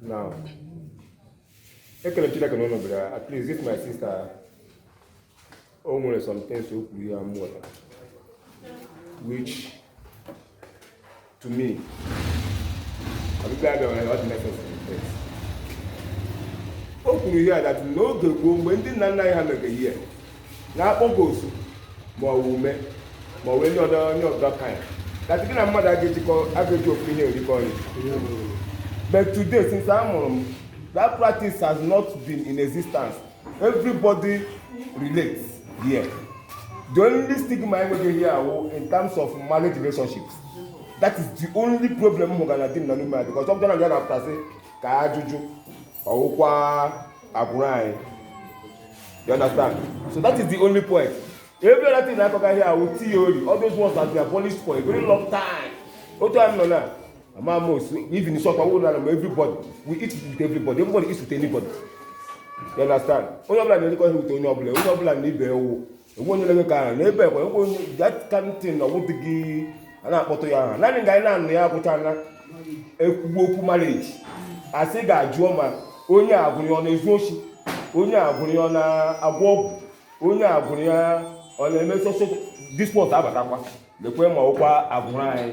now ekele m chineke na unu bịara at least this my sister o nwere some things o kwuru here m ghọtara which to me ọbịbịa abịa nwere ọ dị necessary o kwuru here that n'oge gboo mgbe ndị nna nna anyị ha nwere ihe a na-akpọga osu ma ọ wụ ume ma ọ wụ any other any other kind that gị na mmadụ aga ejikọ aga eji ofu ihe erikọ nri but today since a mụrụ m that practice has not been in existence everybody relates here the only stigma anyị nwere here awụ in terms of marriage relationships that is the only problem m hụgara Dim na Nume here because ọbụcha na ya na-apụta a sị ka ajụjụ ọ wụkwa agbụrụ anyị you understand so that is the only point every other thing na-akọga here awụ theory all those ones that they abolished for a very long time otu anyị nọ now Among us, even in short, everybody, we eat with everybody, everybody eats with anybody. You understand? Onye ọbụla na-erikọ ihe with onye ọbụla, onye ọbụla na ibe ewu. Enwe onye na-eme ka ahụ, n'ebe ekwe, enwe onye, that kind of thing, ọ wụdịghị a na-akpọtụ ya aha. Naanị nga anyị na-anụ ya awụcha na e kwuwe okwu marriage. A sị gaa jụọ ma onye agbụrụ ya ọ na-ezu oshi, onye agbụrụ ya ọ na-agwọ ọgwụ, onye agbụrụ ya ọ na-eme so so, this one abatakwa, lekwe ma ọ wụkwa agbụrụ anyị.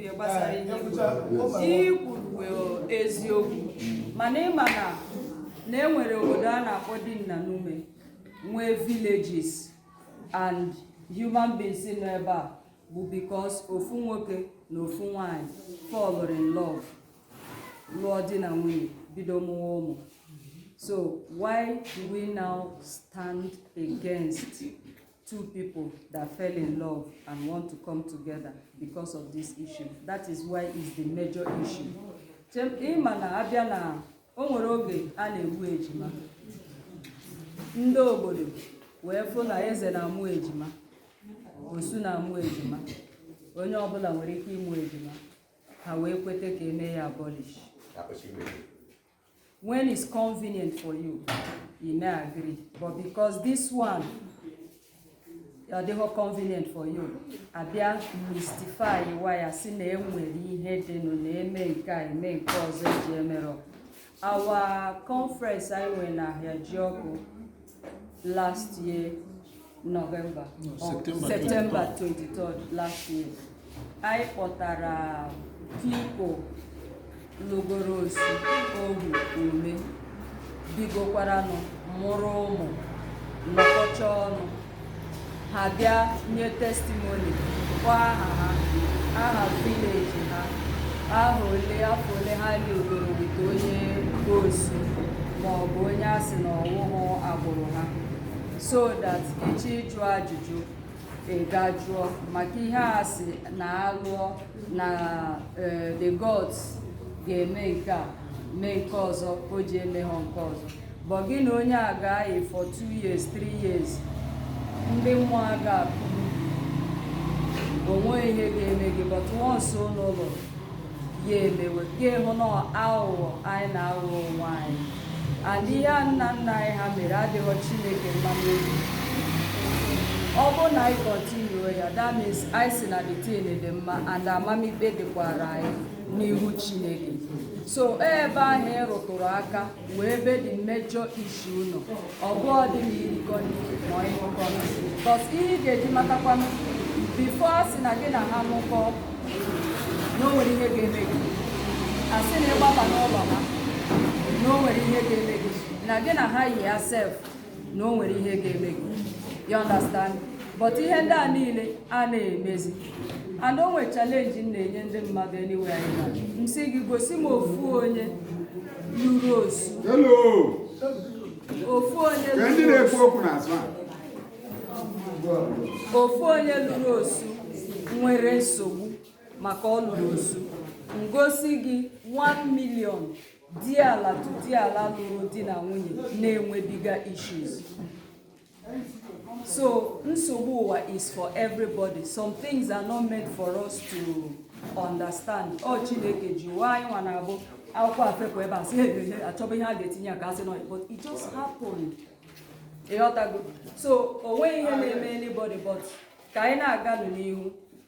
ihe gbasara ihe i kwuru. ihe i kwuru bụ eziokwu mana ịma na na e nwere obodo a na-akpọ Dim na Nume nwee villages and human beings nọ ebe a bụ because ofu nwoke na ofu nwanyị fall in love lụọ di na nwunye bido mụwa ụmụ so why do we now stand against two people that fell in love and want to come together because of this issue. That is why it's the major issue. ịma na abịa na o nwere oge a na-egbu ejima ndị obodo wee fụ na eze na-amụ ejima osu na-amụ ejima onye ọbụla nwere ike ịmụ ejima ha wee kweta ka eme ya abolish when it's convenient for you you may agree but because this one ọ dịghị convenient for you a bịa mystify wa ya sị na e nwere ihe dịnụ na-eme nke a eme nke ọzọ eji emerọ our conference anyị nwere na Ahịajiọkụ last year November no, September 23rd last year anyị kpọtara people lụgoro osu ohu ume bigokwaranụ mụrụ ụmụ nọkọcha ọnụ ha bịa nye testimony kpọọ aha ha aha village ha aha ole afọ ole ha livegoro with onye osu ma ọ bụ onye a sị na ọ wụhụ agbụrụ ha so that ị chọọ ịjụ ajụjụ ị gaa jụọ maka ihe a sị na a lụọ na eh, the gods ga-eme nke a mee nke ọzọ o ji eme ha nke ọzọ But gị na onye a ga-ayi for two years, three years, ndị mmụọ a ga-apụ o nweghị ihe ga-eme gị but once ụnụ lụọ ya emewe gị hụ na aghụghọ anyị na-aghọ onwe anyị and ihe nna nna anyị ha mere adịghọ Chineke mma n'obi ọ bụrụ na anyị continue ya that means anyị sị na the thing dị mma and amamikpe dịkwara anyị n'ihu Chineke so ebe ahụ ị rụtụrụ aka wụ ebe the major issue nọ ọ bụ ọ dị na irikọ ma ọ ịṅụkọ because ihe ị ga-eji matakwanụ before a sị na gị na ha ṅụkọ na o nwere ihe ga-eme gị a sị na ị gbaba n'ụlọ ha na o nwere ihe ga-eme gị na gị na ha yia sef na o nwere ihe ga-eme gị you understand but ihe ndị a niile a na-emezi and o nwere challenge m na-enye ndị mmadụ anywhere anyị nọ m sị gị gosi m ofu onye lụrụ osu Hello. ofu onye Ka ndị lụrụ na-ekwu osu okwu n'azụ a. ofu onye lụrụ osu nwere nsogbu maka ọ lụrụ osu m gosi gị 1 million diala to diala lụrụ di na nwunye na-enwebiga issues so nsogbu ụwa is for everybody some things are not meant for us to understand ọ Chineke ji ụwa anyị nwa na-abụ akwụkwọ afepụ ebe a sị ehehe a chọba ihe a ga-etinye aka a sị nọ but it just happened ị ghọtago so o nweghị ihe na-eme anybody but ka anyị na-aganụ n'ihu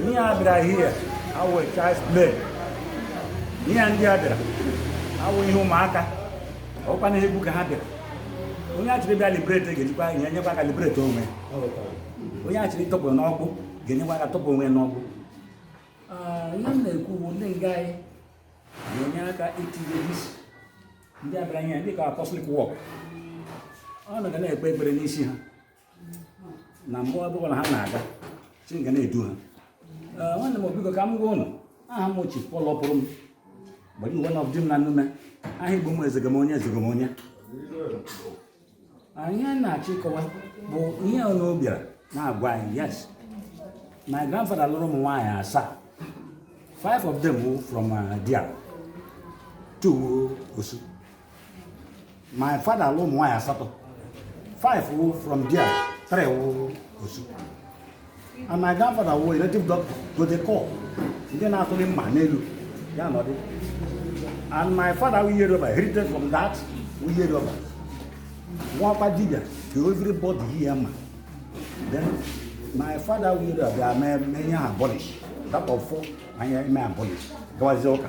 ihe a bịara here awụ child's play ihe ndị a bịara awụ ihe ụmụaka ọkwa na egwu ka ha bịara onye achịrị bịa liberate ga-ejikwa ihe nyekwa aka liberate onwe onye achịrị tọpụ n'agbụ ga-enyekwa aka tọpụ onwe n'agbụ ihe m na-ekwu bụ ndị nga anyị ga-enye aka itinye isi ndị a bịara ihe dịka apostolic work ụnụ ga na-ekpe ekpere n'isi ha na mgbe ọ bụla ha na-aga Chineke ga na-edu ha Ee, nwanne m biko ka m gwa ụnụ aha m wụ Chief Paul Ọpụrụm gbara uwe na ọbụdị m na nnume aha igbo m ezegom onye ezegom onye ihe a na-achọ ịkọwa bụ ihe ụnụ bịara na-agwa anyị yes my grandfather lụrụ ụmụ nwaanyị asaa five of them were from uh, Dia two were Osu my father lụrụ ụmụ nwaanyị asatọ five were from Dia three were Osu And my grandfather was a native doctor to the core. Ndị na-atụli mma n'elu ya nọdụ. And my father weere over heritage from that weere over. Ọ wụkwa dibia ka everybody here ma. Then my father weere over bịa mee ya abolish. That ọfọ anyị emee abolish. Gawazie ụka.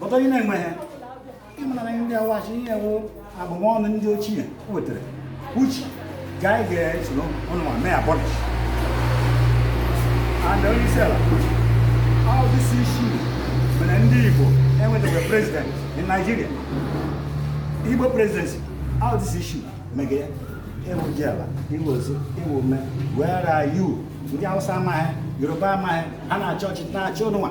but onye na-enweghị ịmara na ndị awa sị ihe wụ abụmọnụ ndị ochie wetara uche ga anyị ga-esoro ụnụnwa mee abolish and onye isi ala all this issue mere ndị Igbo enwetaghị president in Nigeria Igbo presidency all this issue mege ya ị wụ Diala ị wụ Osu ị wụ Ume where are you ndị Hausa amaghị Yoruba amaghị ha na-achọ ọchịchị na-achị ụnụnwa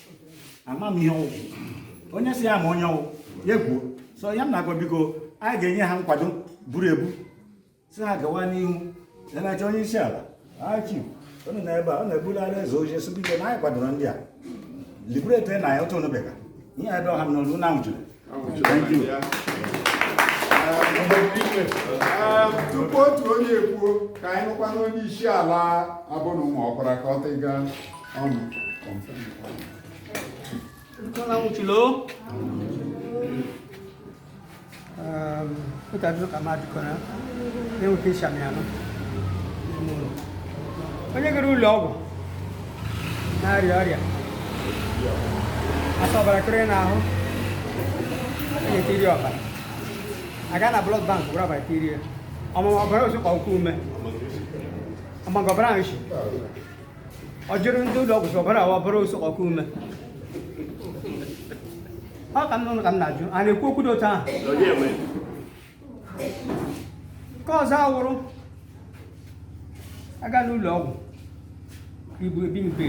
amaghị ihe ọ wụ onye sị ya ma ihe ọ wụ ya kwuo so ihe m na-agwa biko anyị ga-enye ha nkwado buru ibu sị ha gawa n'ihu na-eche onye isi ala achi unu na ebe a ọ na-ebulala eze oche sị biko na anyị kwadoro ndị a liberate na ya otu onubega ihe ebe ọha m n'olu na nwụchiri tupu otu onye ekwuo ka anyị nụkwa na onye isi ala abụ na ụmụ ọkwara ka ọ tịga ọnụ mutane kama tukona ne mutisha miano onye gara ụlọ ọgwụ na-arịa ọrịa a sị ọbara kọrọ n'ahụ a ga-etiri ọbara a gaa na blood bank ga were ọbara tirie ọ ma ma ọ ọbara osu ka ọ wụ ume ọ ma nga ọbara ahụ si ọ jụrụ ndị ụlọ ọgwụ sị ọbara a ọ wụ ọbara osu ka ọ wụ ume ọ ka m nụrụ ka m na-ajụ a na-ekwu okwu dị otu ahụ nke ọzọ a wụrụ a gaa n'ụlọ ọgwụ ibu ebi mbe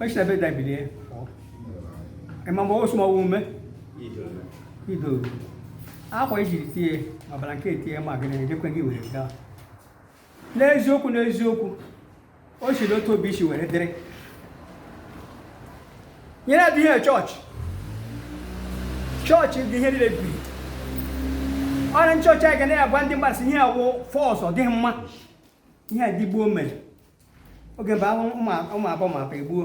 e si na bed ebilie ị ma mgbe osu ma ọ wụ ume ido akwa ejiri tie ọbara nke etie ma gịnị ejekwe gị were gaa n'eziokwu n'eziokwu o si n'otu obi isi were dịrị nyere dị ihe chọọchị chọọchị dị ihe niile biri ọrụ ndị chọọchị anyị ga na-agwa ndị mmadụ sị ihe a wụ false ọ dịghị mma ihe ndị gboo mere oge mgbe ahụ ụmụ abụọ ma pa egbuo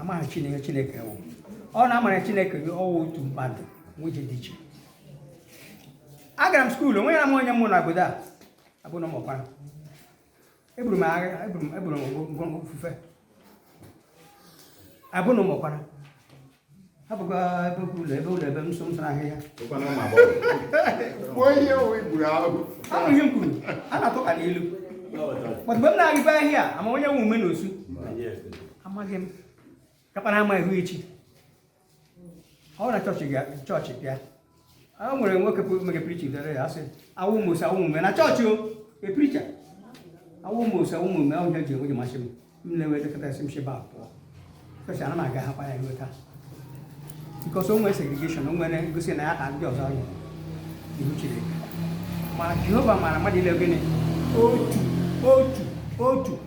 amaghị chineke chineke wụ ọ na-amara chineke ọ wụ otu mmadụ nwe onye dị iche agara m skuul onwe ya m onye mụ na obodo a abụ na ụmụkwara eburu m agha eburu m eburu m ngwongwo ofufe abụ na ụmụkwara hapụkwa ebe okwu ụlọ ebe ụlọ ebe nso nso ahịhịa gbuo ihe owe gburu ahụ ahụ ihe m kwuru a na-atụ ka n'ilu but mgbe m na-arịba ahịa ama onye wụ ume na osu amaghị m kapara ama ihu echi ọ na chọọchị ga chọọchị bịa o nwere nwoke mere pricha dere ya a sị awụ m osu awụ m ume na chọọchị o epricha awụ m osu awụ m ume ahụ ihe ji enwe ji masị m m na-enwe dịkọta esi m sheba pụọ chọọchị ana m aga hakwa ya nweta because o nwere segregation o nwere ngosi na ya ka ndị ọzọ anyị ihu chineke ma jehova mara mmadụ niile gịnị otu otu otu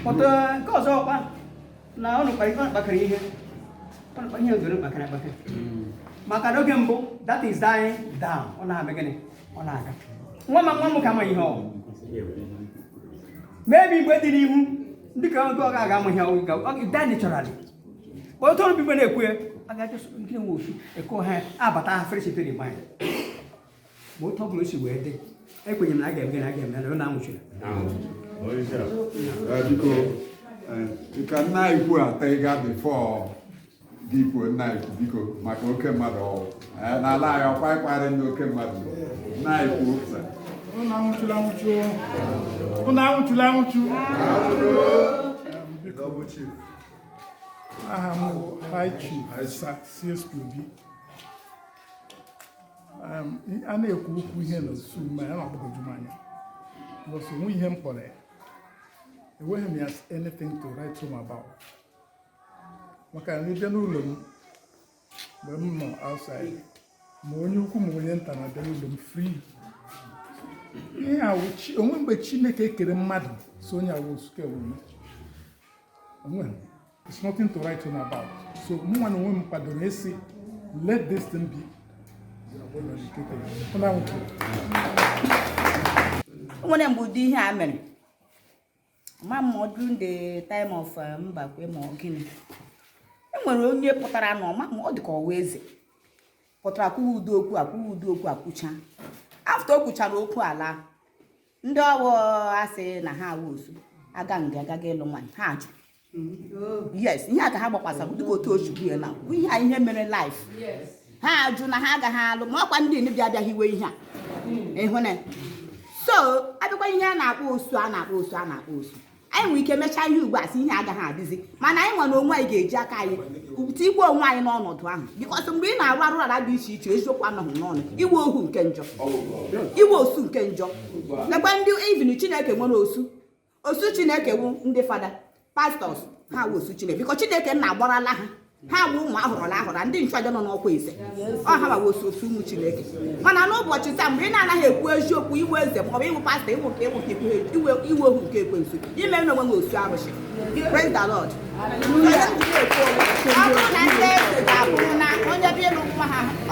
pọta nke ọzọ ọkpa na ọ nụkwa ife kpakara ihe ọ nụkwa ihe ndoro kpakara akpaka maka n'oge mbụ that is dying down ọ na-eme gịnị ọ na-aga nwa ma nwa m ka amaghị ihe ọ maybe mgbe dị n'ihu dị ka oge ọ ga-aga amaghị ọ ga ọ ga die naturally kpọọ otu ọrụ bụ mgbe a na-ekwu ya a ga-ajụ nke nwe ofu ekwe ha abata ha fresh to the mind ma otu ọ bụla o si wee dị ekwenye m na a ga-eme na a ga-eme na ọ na-anwụchiri biko ka nna anyị kwuo ata ịga before gị kwuo nna anyị kwu biko maka oke mmadụ ọ wụ n'ala anyị ọkwa ịkparị ndị oke mmadụ nna anyị kwuo pụta ụnụ anwụchula anwụchu ụnụ anwụchula anwụchu aha m bụ high chief sir c s obi a na-ekwu okwu ihe na osu ma ya na-agbagwoju m anya because o nwe ihe m kpọrọ ya eweghị m ya anything to write home about maka na ịbịa n'ụlọ m mgbe m nọ outside ma onye ukwu ma onye nta na-abịa n'ụlọ m free ihe a wụ chi- o nwe mgbe chineke kere mmadụ sị onye a wụ osu ke wụ onwe It's nothing to write home about. So mụnwa na onwe m kwadoro a sị let this thing be o nwere mgbe ụdị ihe a mere ma ma ọ during the time of eh, Mbakwe ma ọ gịnị e nwere onye pụtara na ọma ma ọ dị ka ọ wụ eze pụtara kwuwa ụdị okwu a kwuwa ụdị okwu a kwuchaa after o kwuchara okwu a laa ndị ọ wụ a sị na ha wụ osu aga nga agaghị ịlụ nwaanyị ha ajụ yes ihe a ka ha gbakwasara dịka otu ochukwu ya na ihe a ihe mere life ha ajụ na ha agaghị alụ ma ọkwa ndị bịa abịaghị iwe ihe a hmm. ị hụna so a bịakwa ihe a na-akpọ osu a na-akpọ osu a na-akpọ osu anyị nwere ike mechaa ihe ugbu a sị ihe a agaghị adịzi mana anyị nwa na onwe anyị ga-eji aka anyị tikwa onwe anyị n'ọnọdụ ahụ because mgbe ị na-arụ arụ ala dị iche iche eziokwu anọghị n'ọnụ ị wụ ohu nke njọ ị wụ osu nke njọ nakwa ndị even chineke nwere osu osu chineke wụ ndị fada pastors ha wụ osu chineke because chineke nna agbarala ha ha bụ ụmụ a họrọla ahọrọ ndị nchụaja nọ n'ọkwa eze ọha ma wụ osu ụmụ chineke mana n'ụbọchị taa mgbe ị na-anaghị ekwu eziokwu ị wụ eze ma ọ bụ ị wụ pastor ị wụ nke a ị wụ nke a ị wụ ohu nke ekwensu i mena onwe gị osu arụsị praise the lord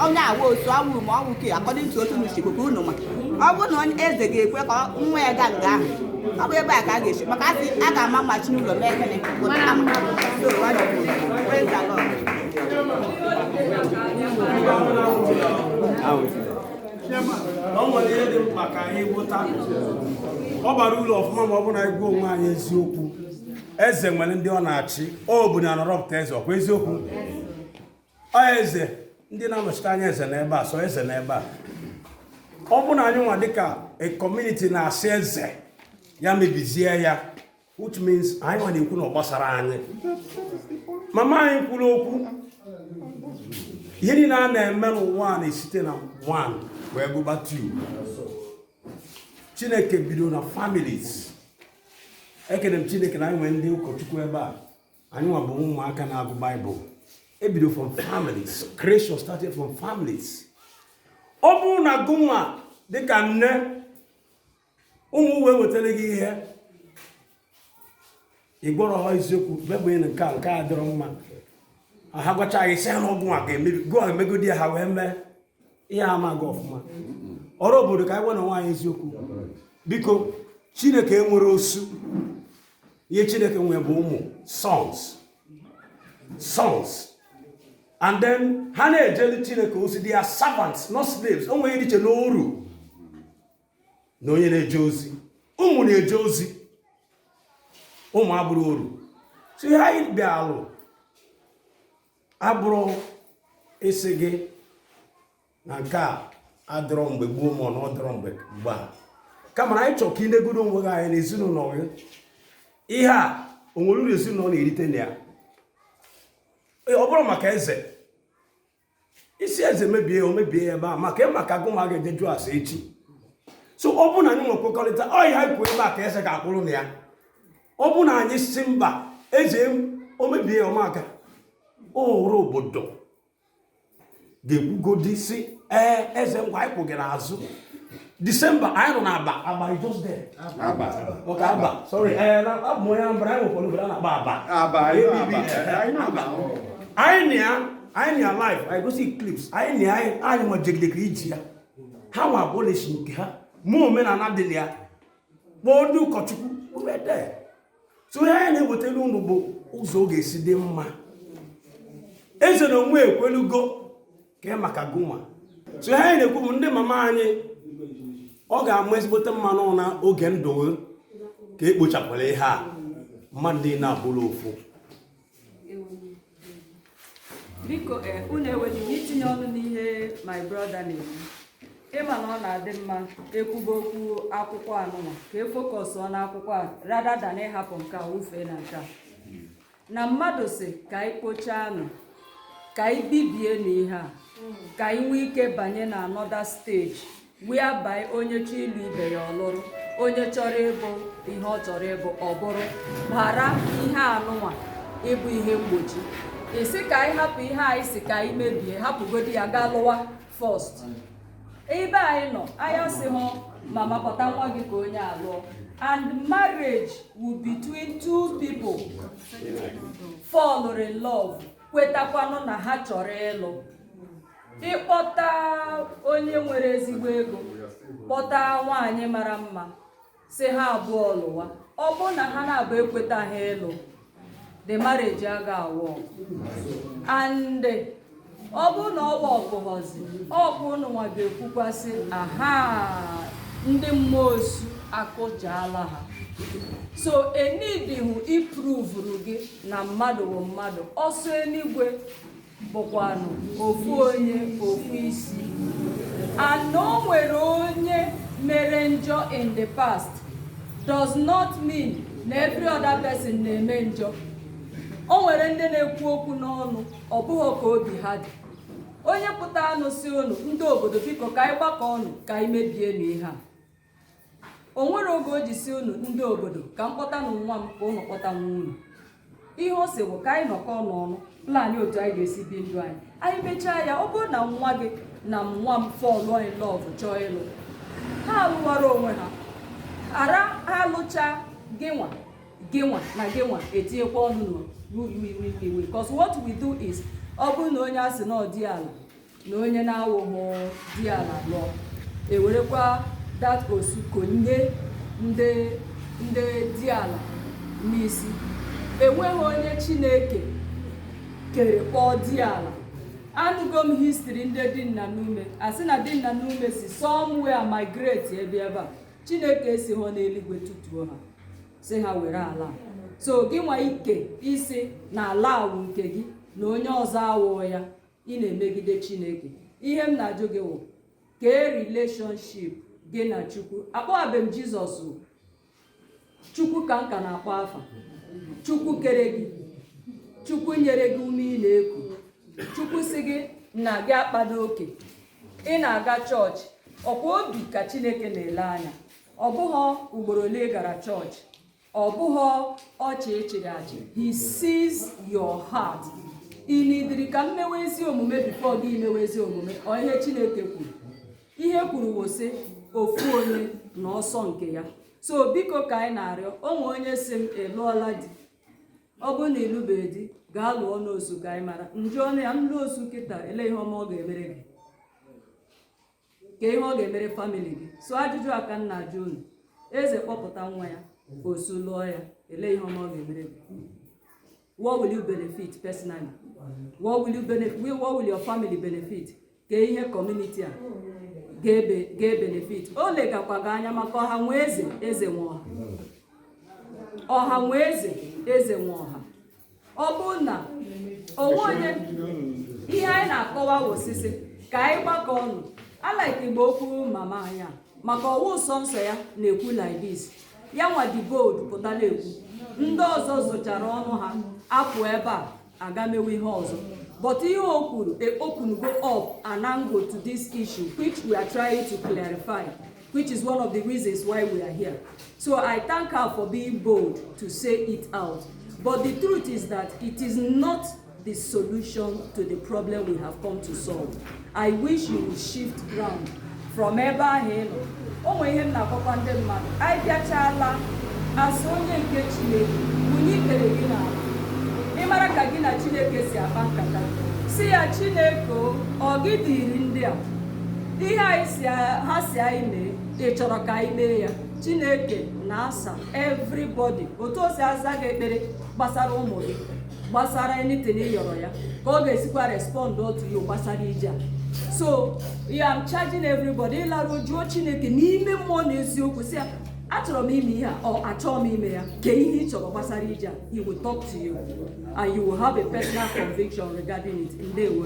onye a wụ osu ohu ma ọ wụ ke according to otu n'uchigbo ka unu ma ọ bụrụ na eze ga-ekwe ka nwa ya gaa nga ahụ ọ bụ ebe a ka a ga-esi maka a sị a ga-ama mma si n'ụlọ mee ekene o nwere ihe dị mkpa ka anyị ghọta ọ bara uru ọfụma ma ọ bụ na anyị gwa onwe anyị eziokwu eze nwere ndị ọ na-achị obodo na-arọpụta eze ọkwa eziokwu ọ eze ndị na-anọchite anya eze n'ebe a so eze n'ebe a ọ bụ na anyị nwa dịka a community na-asị eze ya mebizie ya which means anyị nwa na-ekwu na ọ gbasara anyị mama anyị kwuru okwu ihe niile a na-eme n'ụwa a na-esite na one wee gụba two chineke bido na families ekene m chineke na anyị nwere ndị ụkọchukwu ebe a anyị nwa bụ ụmụaka na-agụ bible e bido from families creation started from families ọ bụrụ na gụnwa dịka nne ụmụ wee wetara gị ihe ị gwarọ ha eziokwu bebụnye na nke a nke a dịrọ mma ha gwachaa gị sị ha na ọgwụ a ga-emebi gụ o emegodi ha wee mee ihe ama gị ọfụma ọra obodo ka anyị gwanụ onwe anyị eziokwu biko chineke enwerọ osu ihe chineke nwere bụ ụmụ sons sons and then ha na-ejeli chineke ozi they are servants not slaves o nwere iche n'oru na onye na-eje ozi ụmụ na-eje ozi ụmụ abụrọ oru so ihe anyị bịalụ abụrọ ịsị gị na nke a adịrọ mgbe gboo ma ọ na ọ dịrọ mgbe mgbe a kama na anyị chọrọ ka i negodo onwe gị anya na ezinụlọ gị ihe a o nwere uru ezinụlọ na-erite na ya ọ bụrụ maka eze ị sị eze mebie ya o mebie ya ebe a maka maka agụ ma ga-eje jụọ ase echi so ọ bụrụ na anyị nwe nkwekọrịta ọ ihe anyị kwuo ebe a ka eze ga-akwụrụ na ya ọ bụ na anyị sị mba eze o mebie ya maka ọra obodo ga-ekwugodi sị ee eze ngwa anyị kwụ gị n'azụ december anyị nọ n'aba aba is just there aba okay aba sorry ee eh, na abụ onye anambra anyị nwekwara obodo a na-akpọ aba aba anyị na ya anyị na ya live anyị gosi clips anyị na ya anyị nwa jegidekere iji ya ha nwa abolish nke ha mee omenala dị na ya kpọọ ndị ụkọchukwu wede so ihe anyị na-ewetara unu bụ ụzọ ọ ga-esi dị mma eze na onwe ya ekwelugo kee maka gụnwa so ihe anyị na-ekwu bụ ndị mama anyị ọ ga-ama ezigbote mma na ọ na oge ndụ unu ka e kpochapụlụ ihe a mmadụ niile abụrụ ofu biko eh, unu enweghị itinye ọnụ n'ihe my brother na-ekwu ịma na ọ na-adị mma ekwuba okwu akwụkwọ anụnwa ka e fokọsụọ n'akwụkwọ a rather than ịhapụ nke a wufee na nke a na mmadụ sị ka anyị kpochaanụ ka anyị bibienụ ihe a ka anyị nwee ike banye na another stage whereby onye chọọ ịlụ ibe ya ọ lụrụ onye chọrọ ịbụ ihe ọ chọrọ ịbụ ọ bụrụ ghara ihe anụnwa ịbụ ihe mgbochi ịsị ka anyị hapụ ihe anyị sị ka anyị mebie hapụgodi ya gaa lụwa first ebe anyị nọ anyị asị mama kpọta nwa gị ka onye a lụọ and marriage wụ between two people fall in love kwetakwanụ na ha chọrọ ịlụ ịkpọta onye nwere ezigbo ego kpọta nwaanyị mara mma sị ha abụọ lụwa ọ bụrụ na ha naabọ ekwetaha ịlụ the marriage aga awork and ọ bụrụ na ọ workụghọzi ọ bụ ụnụ nwa ga-ekwukwa sị aha ndị mmụọ osu akụjaala ha so e needihụ iprovuru gị na mmadụ bụ mmadụ ọsọ eluigwe bụkwanụ ofu onye ofu isi and o nwere onye mere njọ in the past does not mean na every other person na-eme njọ o nwere ndị na-ekwu okwu n'ọnụ ọ bụghị ka obi ha dị onye pụtanụ sị unu ndị obodo biko ka anyị gbakọ ọnụ ka anyị mebienụ ihe a o nwere oge o ji sị unu ndị obodo ka m kpọtanụ nwa m ka unu kpọta nwa unu ihe ọ sị bụ ka anyị nọkọ n'ọnụ plan otu anyị ga-esi bi ndụ anyị anyị mechaa ya ọ bụrụ na nwa gị na nwa m fall in love chọọ ịlụ ha alụwara onwe ha ara ha alụcha gịnwa gịnwa na gịnwa etinyekwa ọnụ n'iwe because what we do is ọ bụrụ na onye a sị na ọ di ala na onye na-awụghị di ala lụọ ewerekwa that osu konye ndị di ala n'isi enweghị onye chineke kere kpọọ di ala anụgo m history ndị dị nna n'ume a sị na dị nna n'ume si somewhere migrate bịa ebe a chineke esighị n'eluigwe tụtuo ha sị ha were ala so gị nwa ike isi na ala a wụ nke gị na onye ọzọ awụọ ya ị na-emegide chineke ihe m na-ajụ gị wụ kee relationship gị na chukwu akpọghabe m jizọs chukwu ka m ka na-akpọ afa chukwu kere gị chukwu nyere gị ume ị na-eku chukwu sị gị na gị akpado oke ị na-aga chọọchị ọ kwa obi ka chineke na-ele anya ọ bụghị ugboro ole ị gara chọọchị Ọ bụghị ọchị ị chịrị achị. He sees your heart. Ị nidiri ka m mewe ezi omume before gị emewe ezi omume ọ ihe Chineke kwuru. Ihe kwuru wụ sị ofu onye na ọsọ nke ya. So biko ka anyị na-arịọ o nwe onye sị m ị lụọla di ọ bụrụ na ị lụbeghị di gaa lụọ n'osu ka anyị mara m jụọnụ ya m lụọ osu kịta ele ihe ọma ọ ga-emere gị kee ihe ọ ga-emere family gị so ajụjụ a ka m na-ajụ unu eze kpọpụta nwa ya osu lụọ ya ele ihe ọma ọ ga-emere gị what will you benefit personally what will you benefit what will your family benefit kee ihe community a ga-ebenefit o legakwa gị anya maka ọha nwe eze eze nwe ọha ọha nwe eze eze nwe ọha ọ bụrụ na o nwe onye ihe anyị na-akọwa ọ sị sị ka anyị gbakọ ọnụ I like mgbe okwu mama anyị a maka ọ wụ nsọ nsọ ya na-ekwu like this ya nwa dị bold pụta na-ekwu ndị ọzọ zụchara ọnụ ha apụ ebe a aga mewe ihe ọzọ but ihe o kwuru eopengo up an angle to this issue which we are trying to clarify which is one of the reasons why we are here. So I thank her for being bold to say it out. But the truth is that it is not the solution to the problem we have come to solve. I wish you would shift ground from ebe ahụ ị nọ. O nwere ihe m na-akọkwa ndị mmadụ. Anyị bịachala as onye nke Chineke bunye ikpere gị n'ala. Ị mara ka gị na Chineke si akpa nkata. Sị ya Chineke o, ọ gị dịrị ndị a. ihe a ha sị anyị mee ị chọrọ ka anyị mee ya chineke na-asa everybody otu o si aza gị ekpere gbasara ụmụ gị gbasara anything ị yọrọ ya ka ọ ga-esikwa respond to you gbasara ije a so I am charging everybody ị laruo jụọ chineke n'ime mmụọ na eziokwu sị ya achọrọ m ime ihe a or achọghị m ime ya kee ihe ị chọrọ gbasara ije a he will talk to you and you will have a personal conviction regarding it ndewo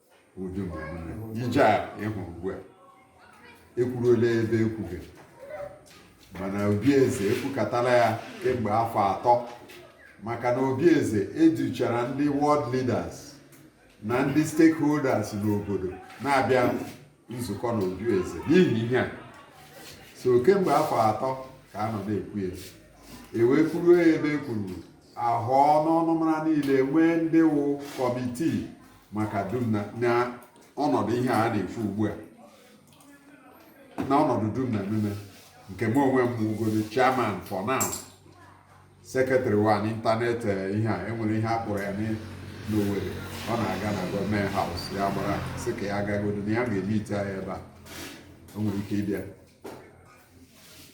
ụdị ije a ị hụrụ ugbu a ekwuruola ebe ekwughị mana obi eze ekwukatala ya kemgbe afọ atọ maka na obi eze educhara ndị ward leaders na ndị stakeholders n'obodo na-abịa nzukọ na obi eze n'ihi ihe a so kemgbe afọ atọ ka a nọ na-ekwu ya ewee kwuru ebe ekwuru ahụ n'ọnụmara niile nwee ndị wụ kọmitii maka Dim na ọnọdụ ihe a na-ekwu ugbu a na ọnọdụ Dim na Nume nke m onwe m wụgodi chairman for now secretary wa n'ịntanetị eh, ihe a enwere ihe a kpọrọ ya n'Owerri ọ na-aga na Government House ya gbara sị ka ya agagodo na ya ga-emeet ya ebe a o nwere ike ịbịa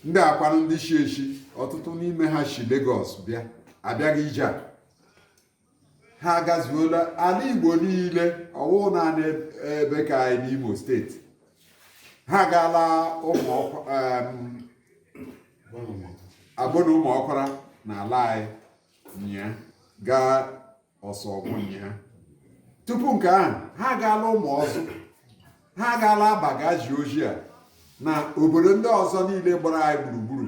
ndị a kwanụ ndị shi eshi ọtụtụ n'ime ha shi Lagos bịa abịaghị ije a ha agazuola ala igbo niile ọ wụ naanị ebe ka anyị n'imo steeti ha gaala abụna ụmụọkwara na ala anyị nya gaa ọsọ ọgwụ nya tupu nke ahụ ha gaala ụmụọzụ ha gaala abba ga zi ozi a na obodo ndị ọzọ niile gbara anyị gburugburu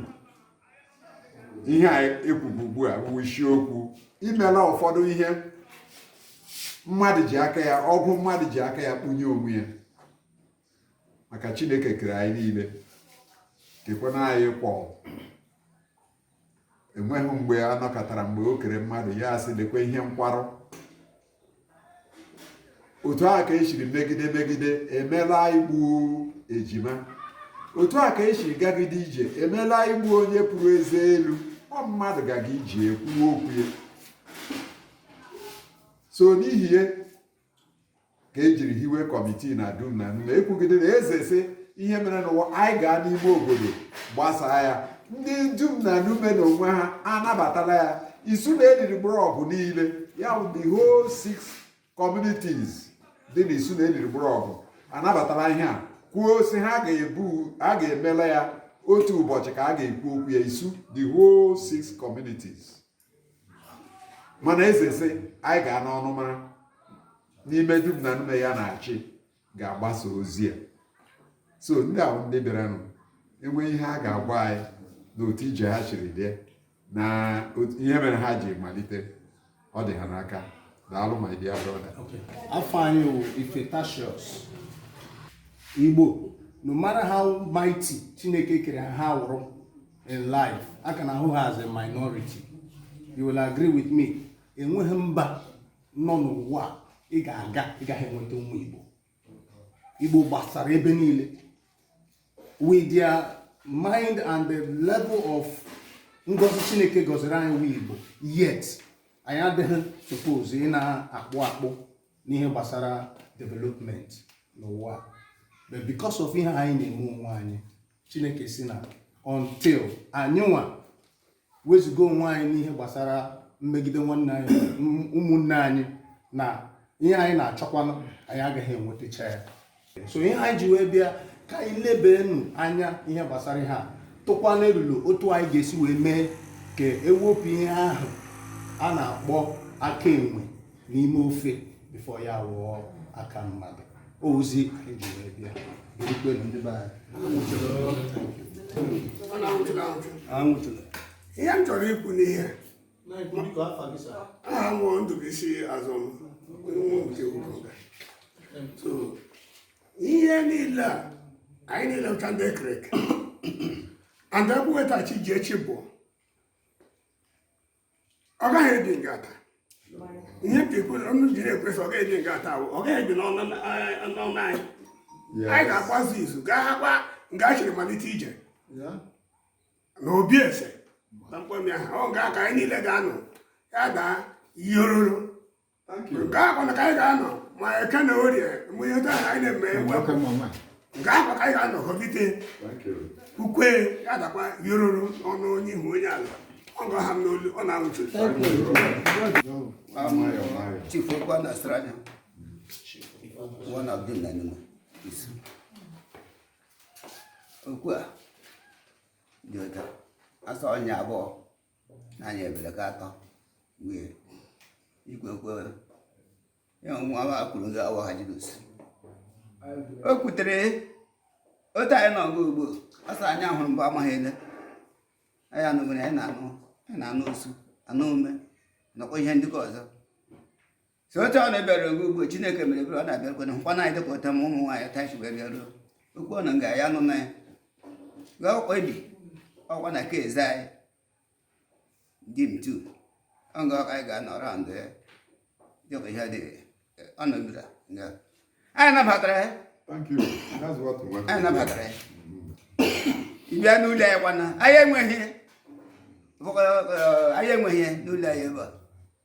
ihe a ekwubu ugbu a bụ isiokwu imela ụfọdụ ihe mmadụ ji aka ya ọgwụ mmadụ ji aka ya kpunye onwe ya maka Chineke kere anyị niile kekwana anyị equal enweghị mgbe a nụkatara mgbe o kere mmadụ ya asị lekwa ihe nkwarụ otu a ka esiri megide megide emela igbu ejima otu a ka esiri gagide ije emela igbu onye pụrụ eze elu ọ mmadụ gaga ije kwuwe okwu ya so n'ihi ya ka ejiri hiwe kọmitii na dum na nume ekwugide na eze sị ihe mere n'ụwa anyị gaa n'ime obodo gbasaa ya ndị dum na nume na onwe ha anabatala ya isu na eliri mgbọrọgwụ niile ya bụ the whole six communities dị na isu na eliri mgbọrọgwụ anabatala ihe a kwuo sị ha a ga-emela ya otu ụbọchị ka a ga-ekwu okwu ya isu the whole six communities mana eze sị anyị ga-anọ ọnụ mara n'ime dum na nume ya na-achị ga-agbasa ozi a so ndị a wụ ndị bịaranụ enwe ihe ha ga-agwa anyị na otu ije ha shiri dị na ihe mere ha ji malite ọ dị ha n'aka daalụ my dear brother afa m wụ ifetashos igbo no matter how mighty chineke kere ha wụrụ in life a ka na-ahụ ha as a minority you will agree with me enweghị mba nọ n'ụwa ị ga-aga ị gaghị enweta ụmụ Igbo Igbo gbasara ebe niile with their mind and the level of ngozi Chineke gọziri anyị wụ Igbo yet anyị adịghị suppose ị na-akpụ akpụ n'ihe gbasara development n'ụwa but because of ihe anyị na-eme onwe anyị chineke sị na until anyịnwa wezụga onwe anyị n'ihe gbasara mmegide nwanne anyị ụmụnne anyị na ihe anyị na-achọkwanụ anyị agaghị enwetacha ya so ihe anyị ji wee bịa ka anyị lebenụ anya ihe gbasara ihe a tụkwanụ elulo otu anyị ga-esi wee mee ka ewepụ ihe ahụ a na-akpọ aka enwe n'ime ofe before ya awụọ aka mmadụ ozi anyị ji wee bịa ekwelu ndị be anyị ihe m chọrọ ikwu n'ihe aha m ndụbụisi azụ nke ugoga so ihe niile a anyị niile ụcha ndị ekereke and ekwuwetachi ji echi bụ ọ gaghị ebi ngaa taa ihe ka ekwe ọnụ jiri ekwesị ọ gaghị ebi ngaa taa ọ gaghị ebi n'ọnụ anyị anyị ga-agbazi izu gaa nga chiri malite ije na obi eze na mkpọmi ahụ ọ ga-aka anyị niile ga-anọ ya daa ihe oruru nke akwa na ka anyị ga-anọ ma eke na orie mgbe ihe taa na anyị na-eme nke akwa ka anyị ga-anọ họbite ukwe ya dakwa yororo ọnụ onye ihu onye ala ọ ga ha n'olu ọ na-awụchi chifu ekwa na strada one of them na nima isu okwu a dị ụtọ asa ọnya abụọ anyị ebere gị atọ wee igwe kwere ya nwa ma kwuru gị awa ha jidus o kwutere otu anyị nọ gị ugbo ọsọ anyị ahụrụ mgbe amaghị ele anyị anụgoro anyị na-anụ anyị na-anụ osu anụ ume nakwa ihe ndị ọzọ so otu ọ na-ebịara oge ugbo chineke mere ebere ọ na-abịakwena nkwa na anyị ụta ma ụmụ nwaanyị tachi wee bịaruo okwu ọnụ nga ya nụ na ya gwa ọkwa ebi ọkwa na ka eze anyị di m tu ọ nga ọka anyị ga-anọrọ ndụ ya dịka ihe dị ọ nọbira nga anyị nabatara ya anyị nabatara ya ịbịa n'ụlọ ya kwana anyị enweghị anyị enweghị n'ụlọ ya ebe a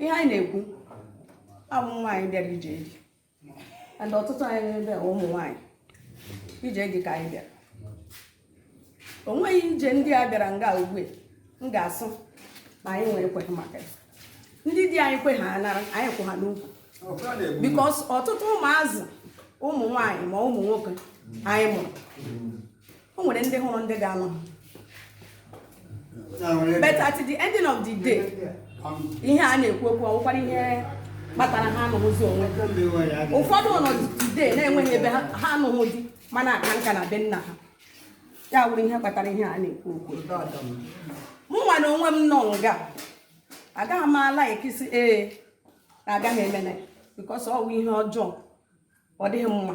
ihe anyị na-ekwu a wụ nwaanyị bịara ije di and ọtụtụ anyị n'ebe ụmụ nwaanyị ije di ka anyị bịara o nweghị ije ndị a bịara nga ugbu m ga-asị na anyị nwere ekweghị maka ya ndị di anyị kwe ha anara anyị kwụ ha n'ukwu because ọtụtụ ụmụazị ụmụ nwaanyị ma ụmụ nwoke anyị mụrụ o nwere ndị hụrụ ndị ga-anụ but at the ending of the day ihe a na-ekwu okwu ọ wụkwara ihe kpatara ha anụghịzi onwe ụfọdụ nọ today na-enweghị ebe ha anụghị di ma na-aka nka na be nna ha ya wụrụ ihe kpatara ihe a na-ekwu okwu mụ nwa na onwe m nọ nga agaghị m a-like ịsị ee na agaghị emene because ọ wụ ihe ọjọọ ọ dịghị mma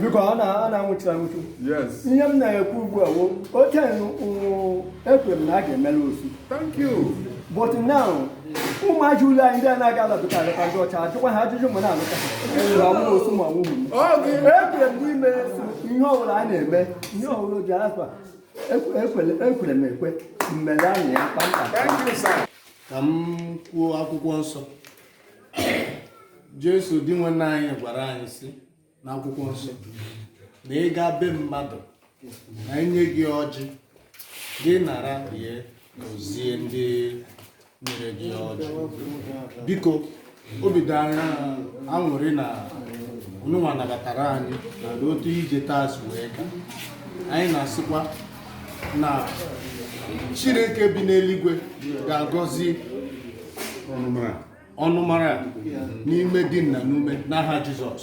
biko ọ na-anwụchi anwụchi ihe m na-ekwu ugbu a okay ekwere m na a ga-emere osu but now ụmụazị ụlọ anyị ndị a na-aga alabụta alụta ndị ọcha ajụkwa ha ajụjụ ma na-alụta ha osu ma ọ wụ ekwere m n'ime ihe ọbụla a na-eme ihe ọbụla oji afa ekwere m ekwe mmere anyị ya kpamkpam ka m kwuo akwụkwọ nsọ Jesu Dinwenụ anyị gwara anyị sị n'akwụkwọ nsọ na ị gaa be mmadụ na e nye gị ọjị gị nara rie gọzie ndị nyere gị ọjị biko obi dị anyị aṅụrị na ụnụnwa nabatara anyị na otu ije taa si wee gaa anyị na-asịkwa na Chineke bi n'eluigwe ga-agọzi ọnụmara n'ime di na n'ume n'aha Jizọs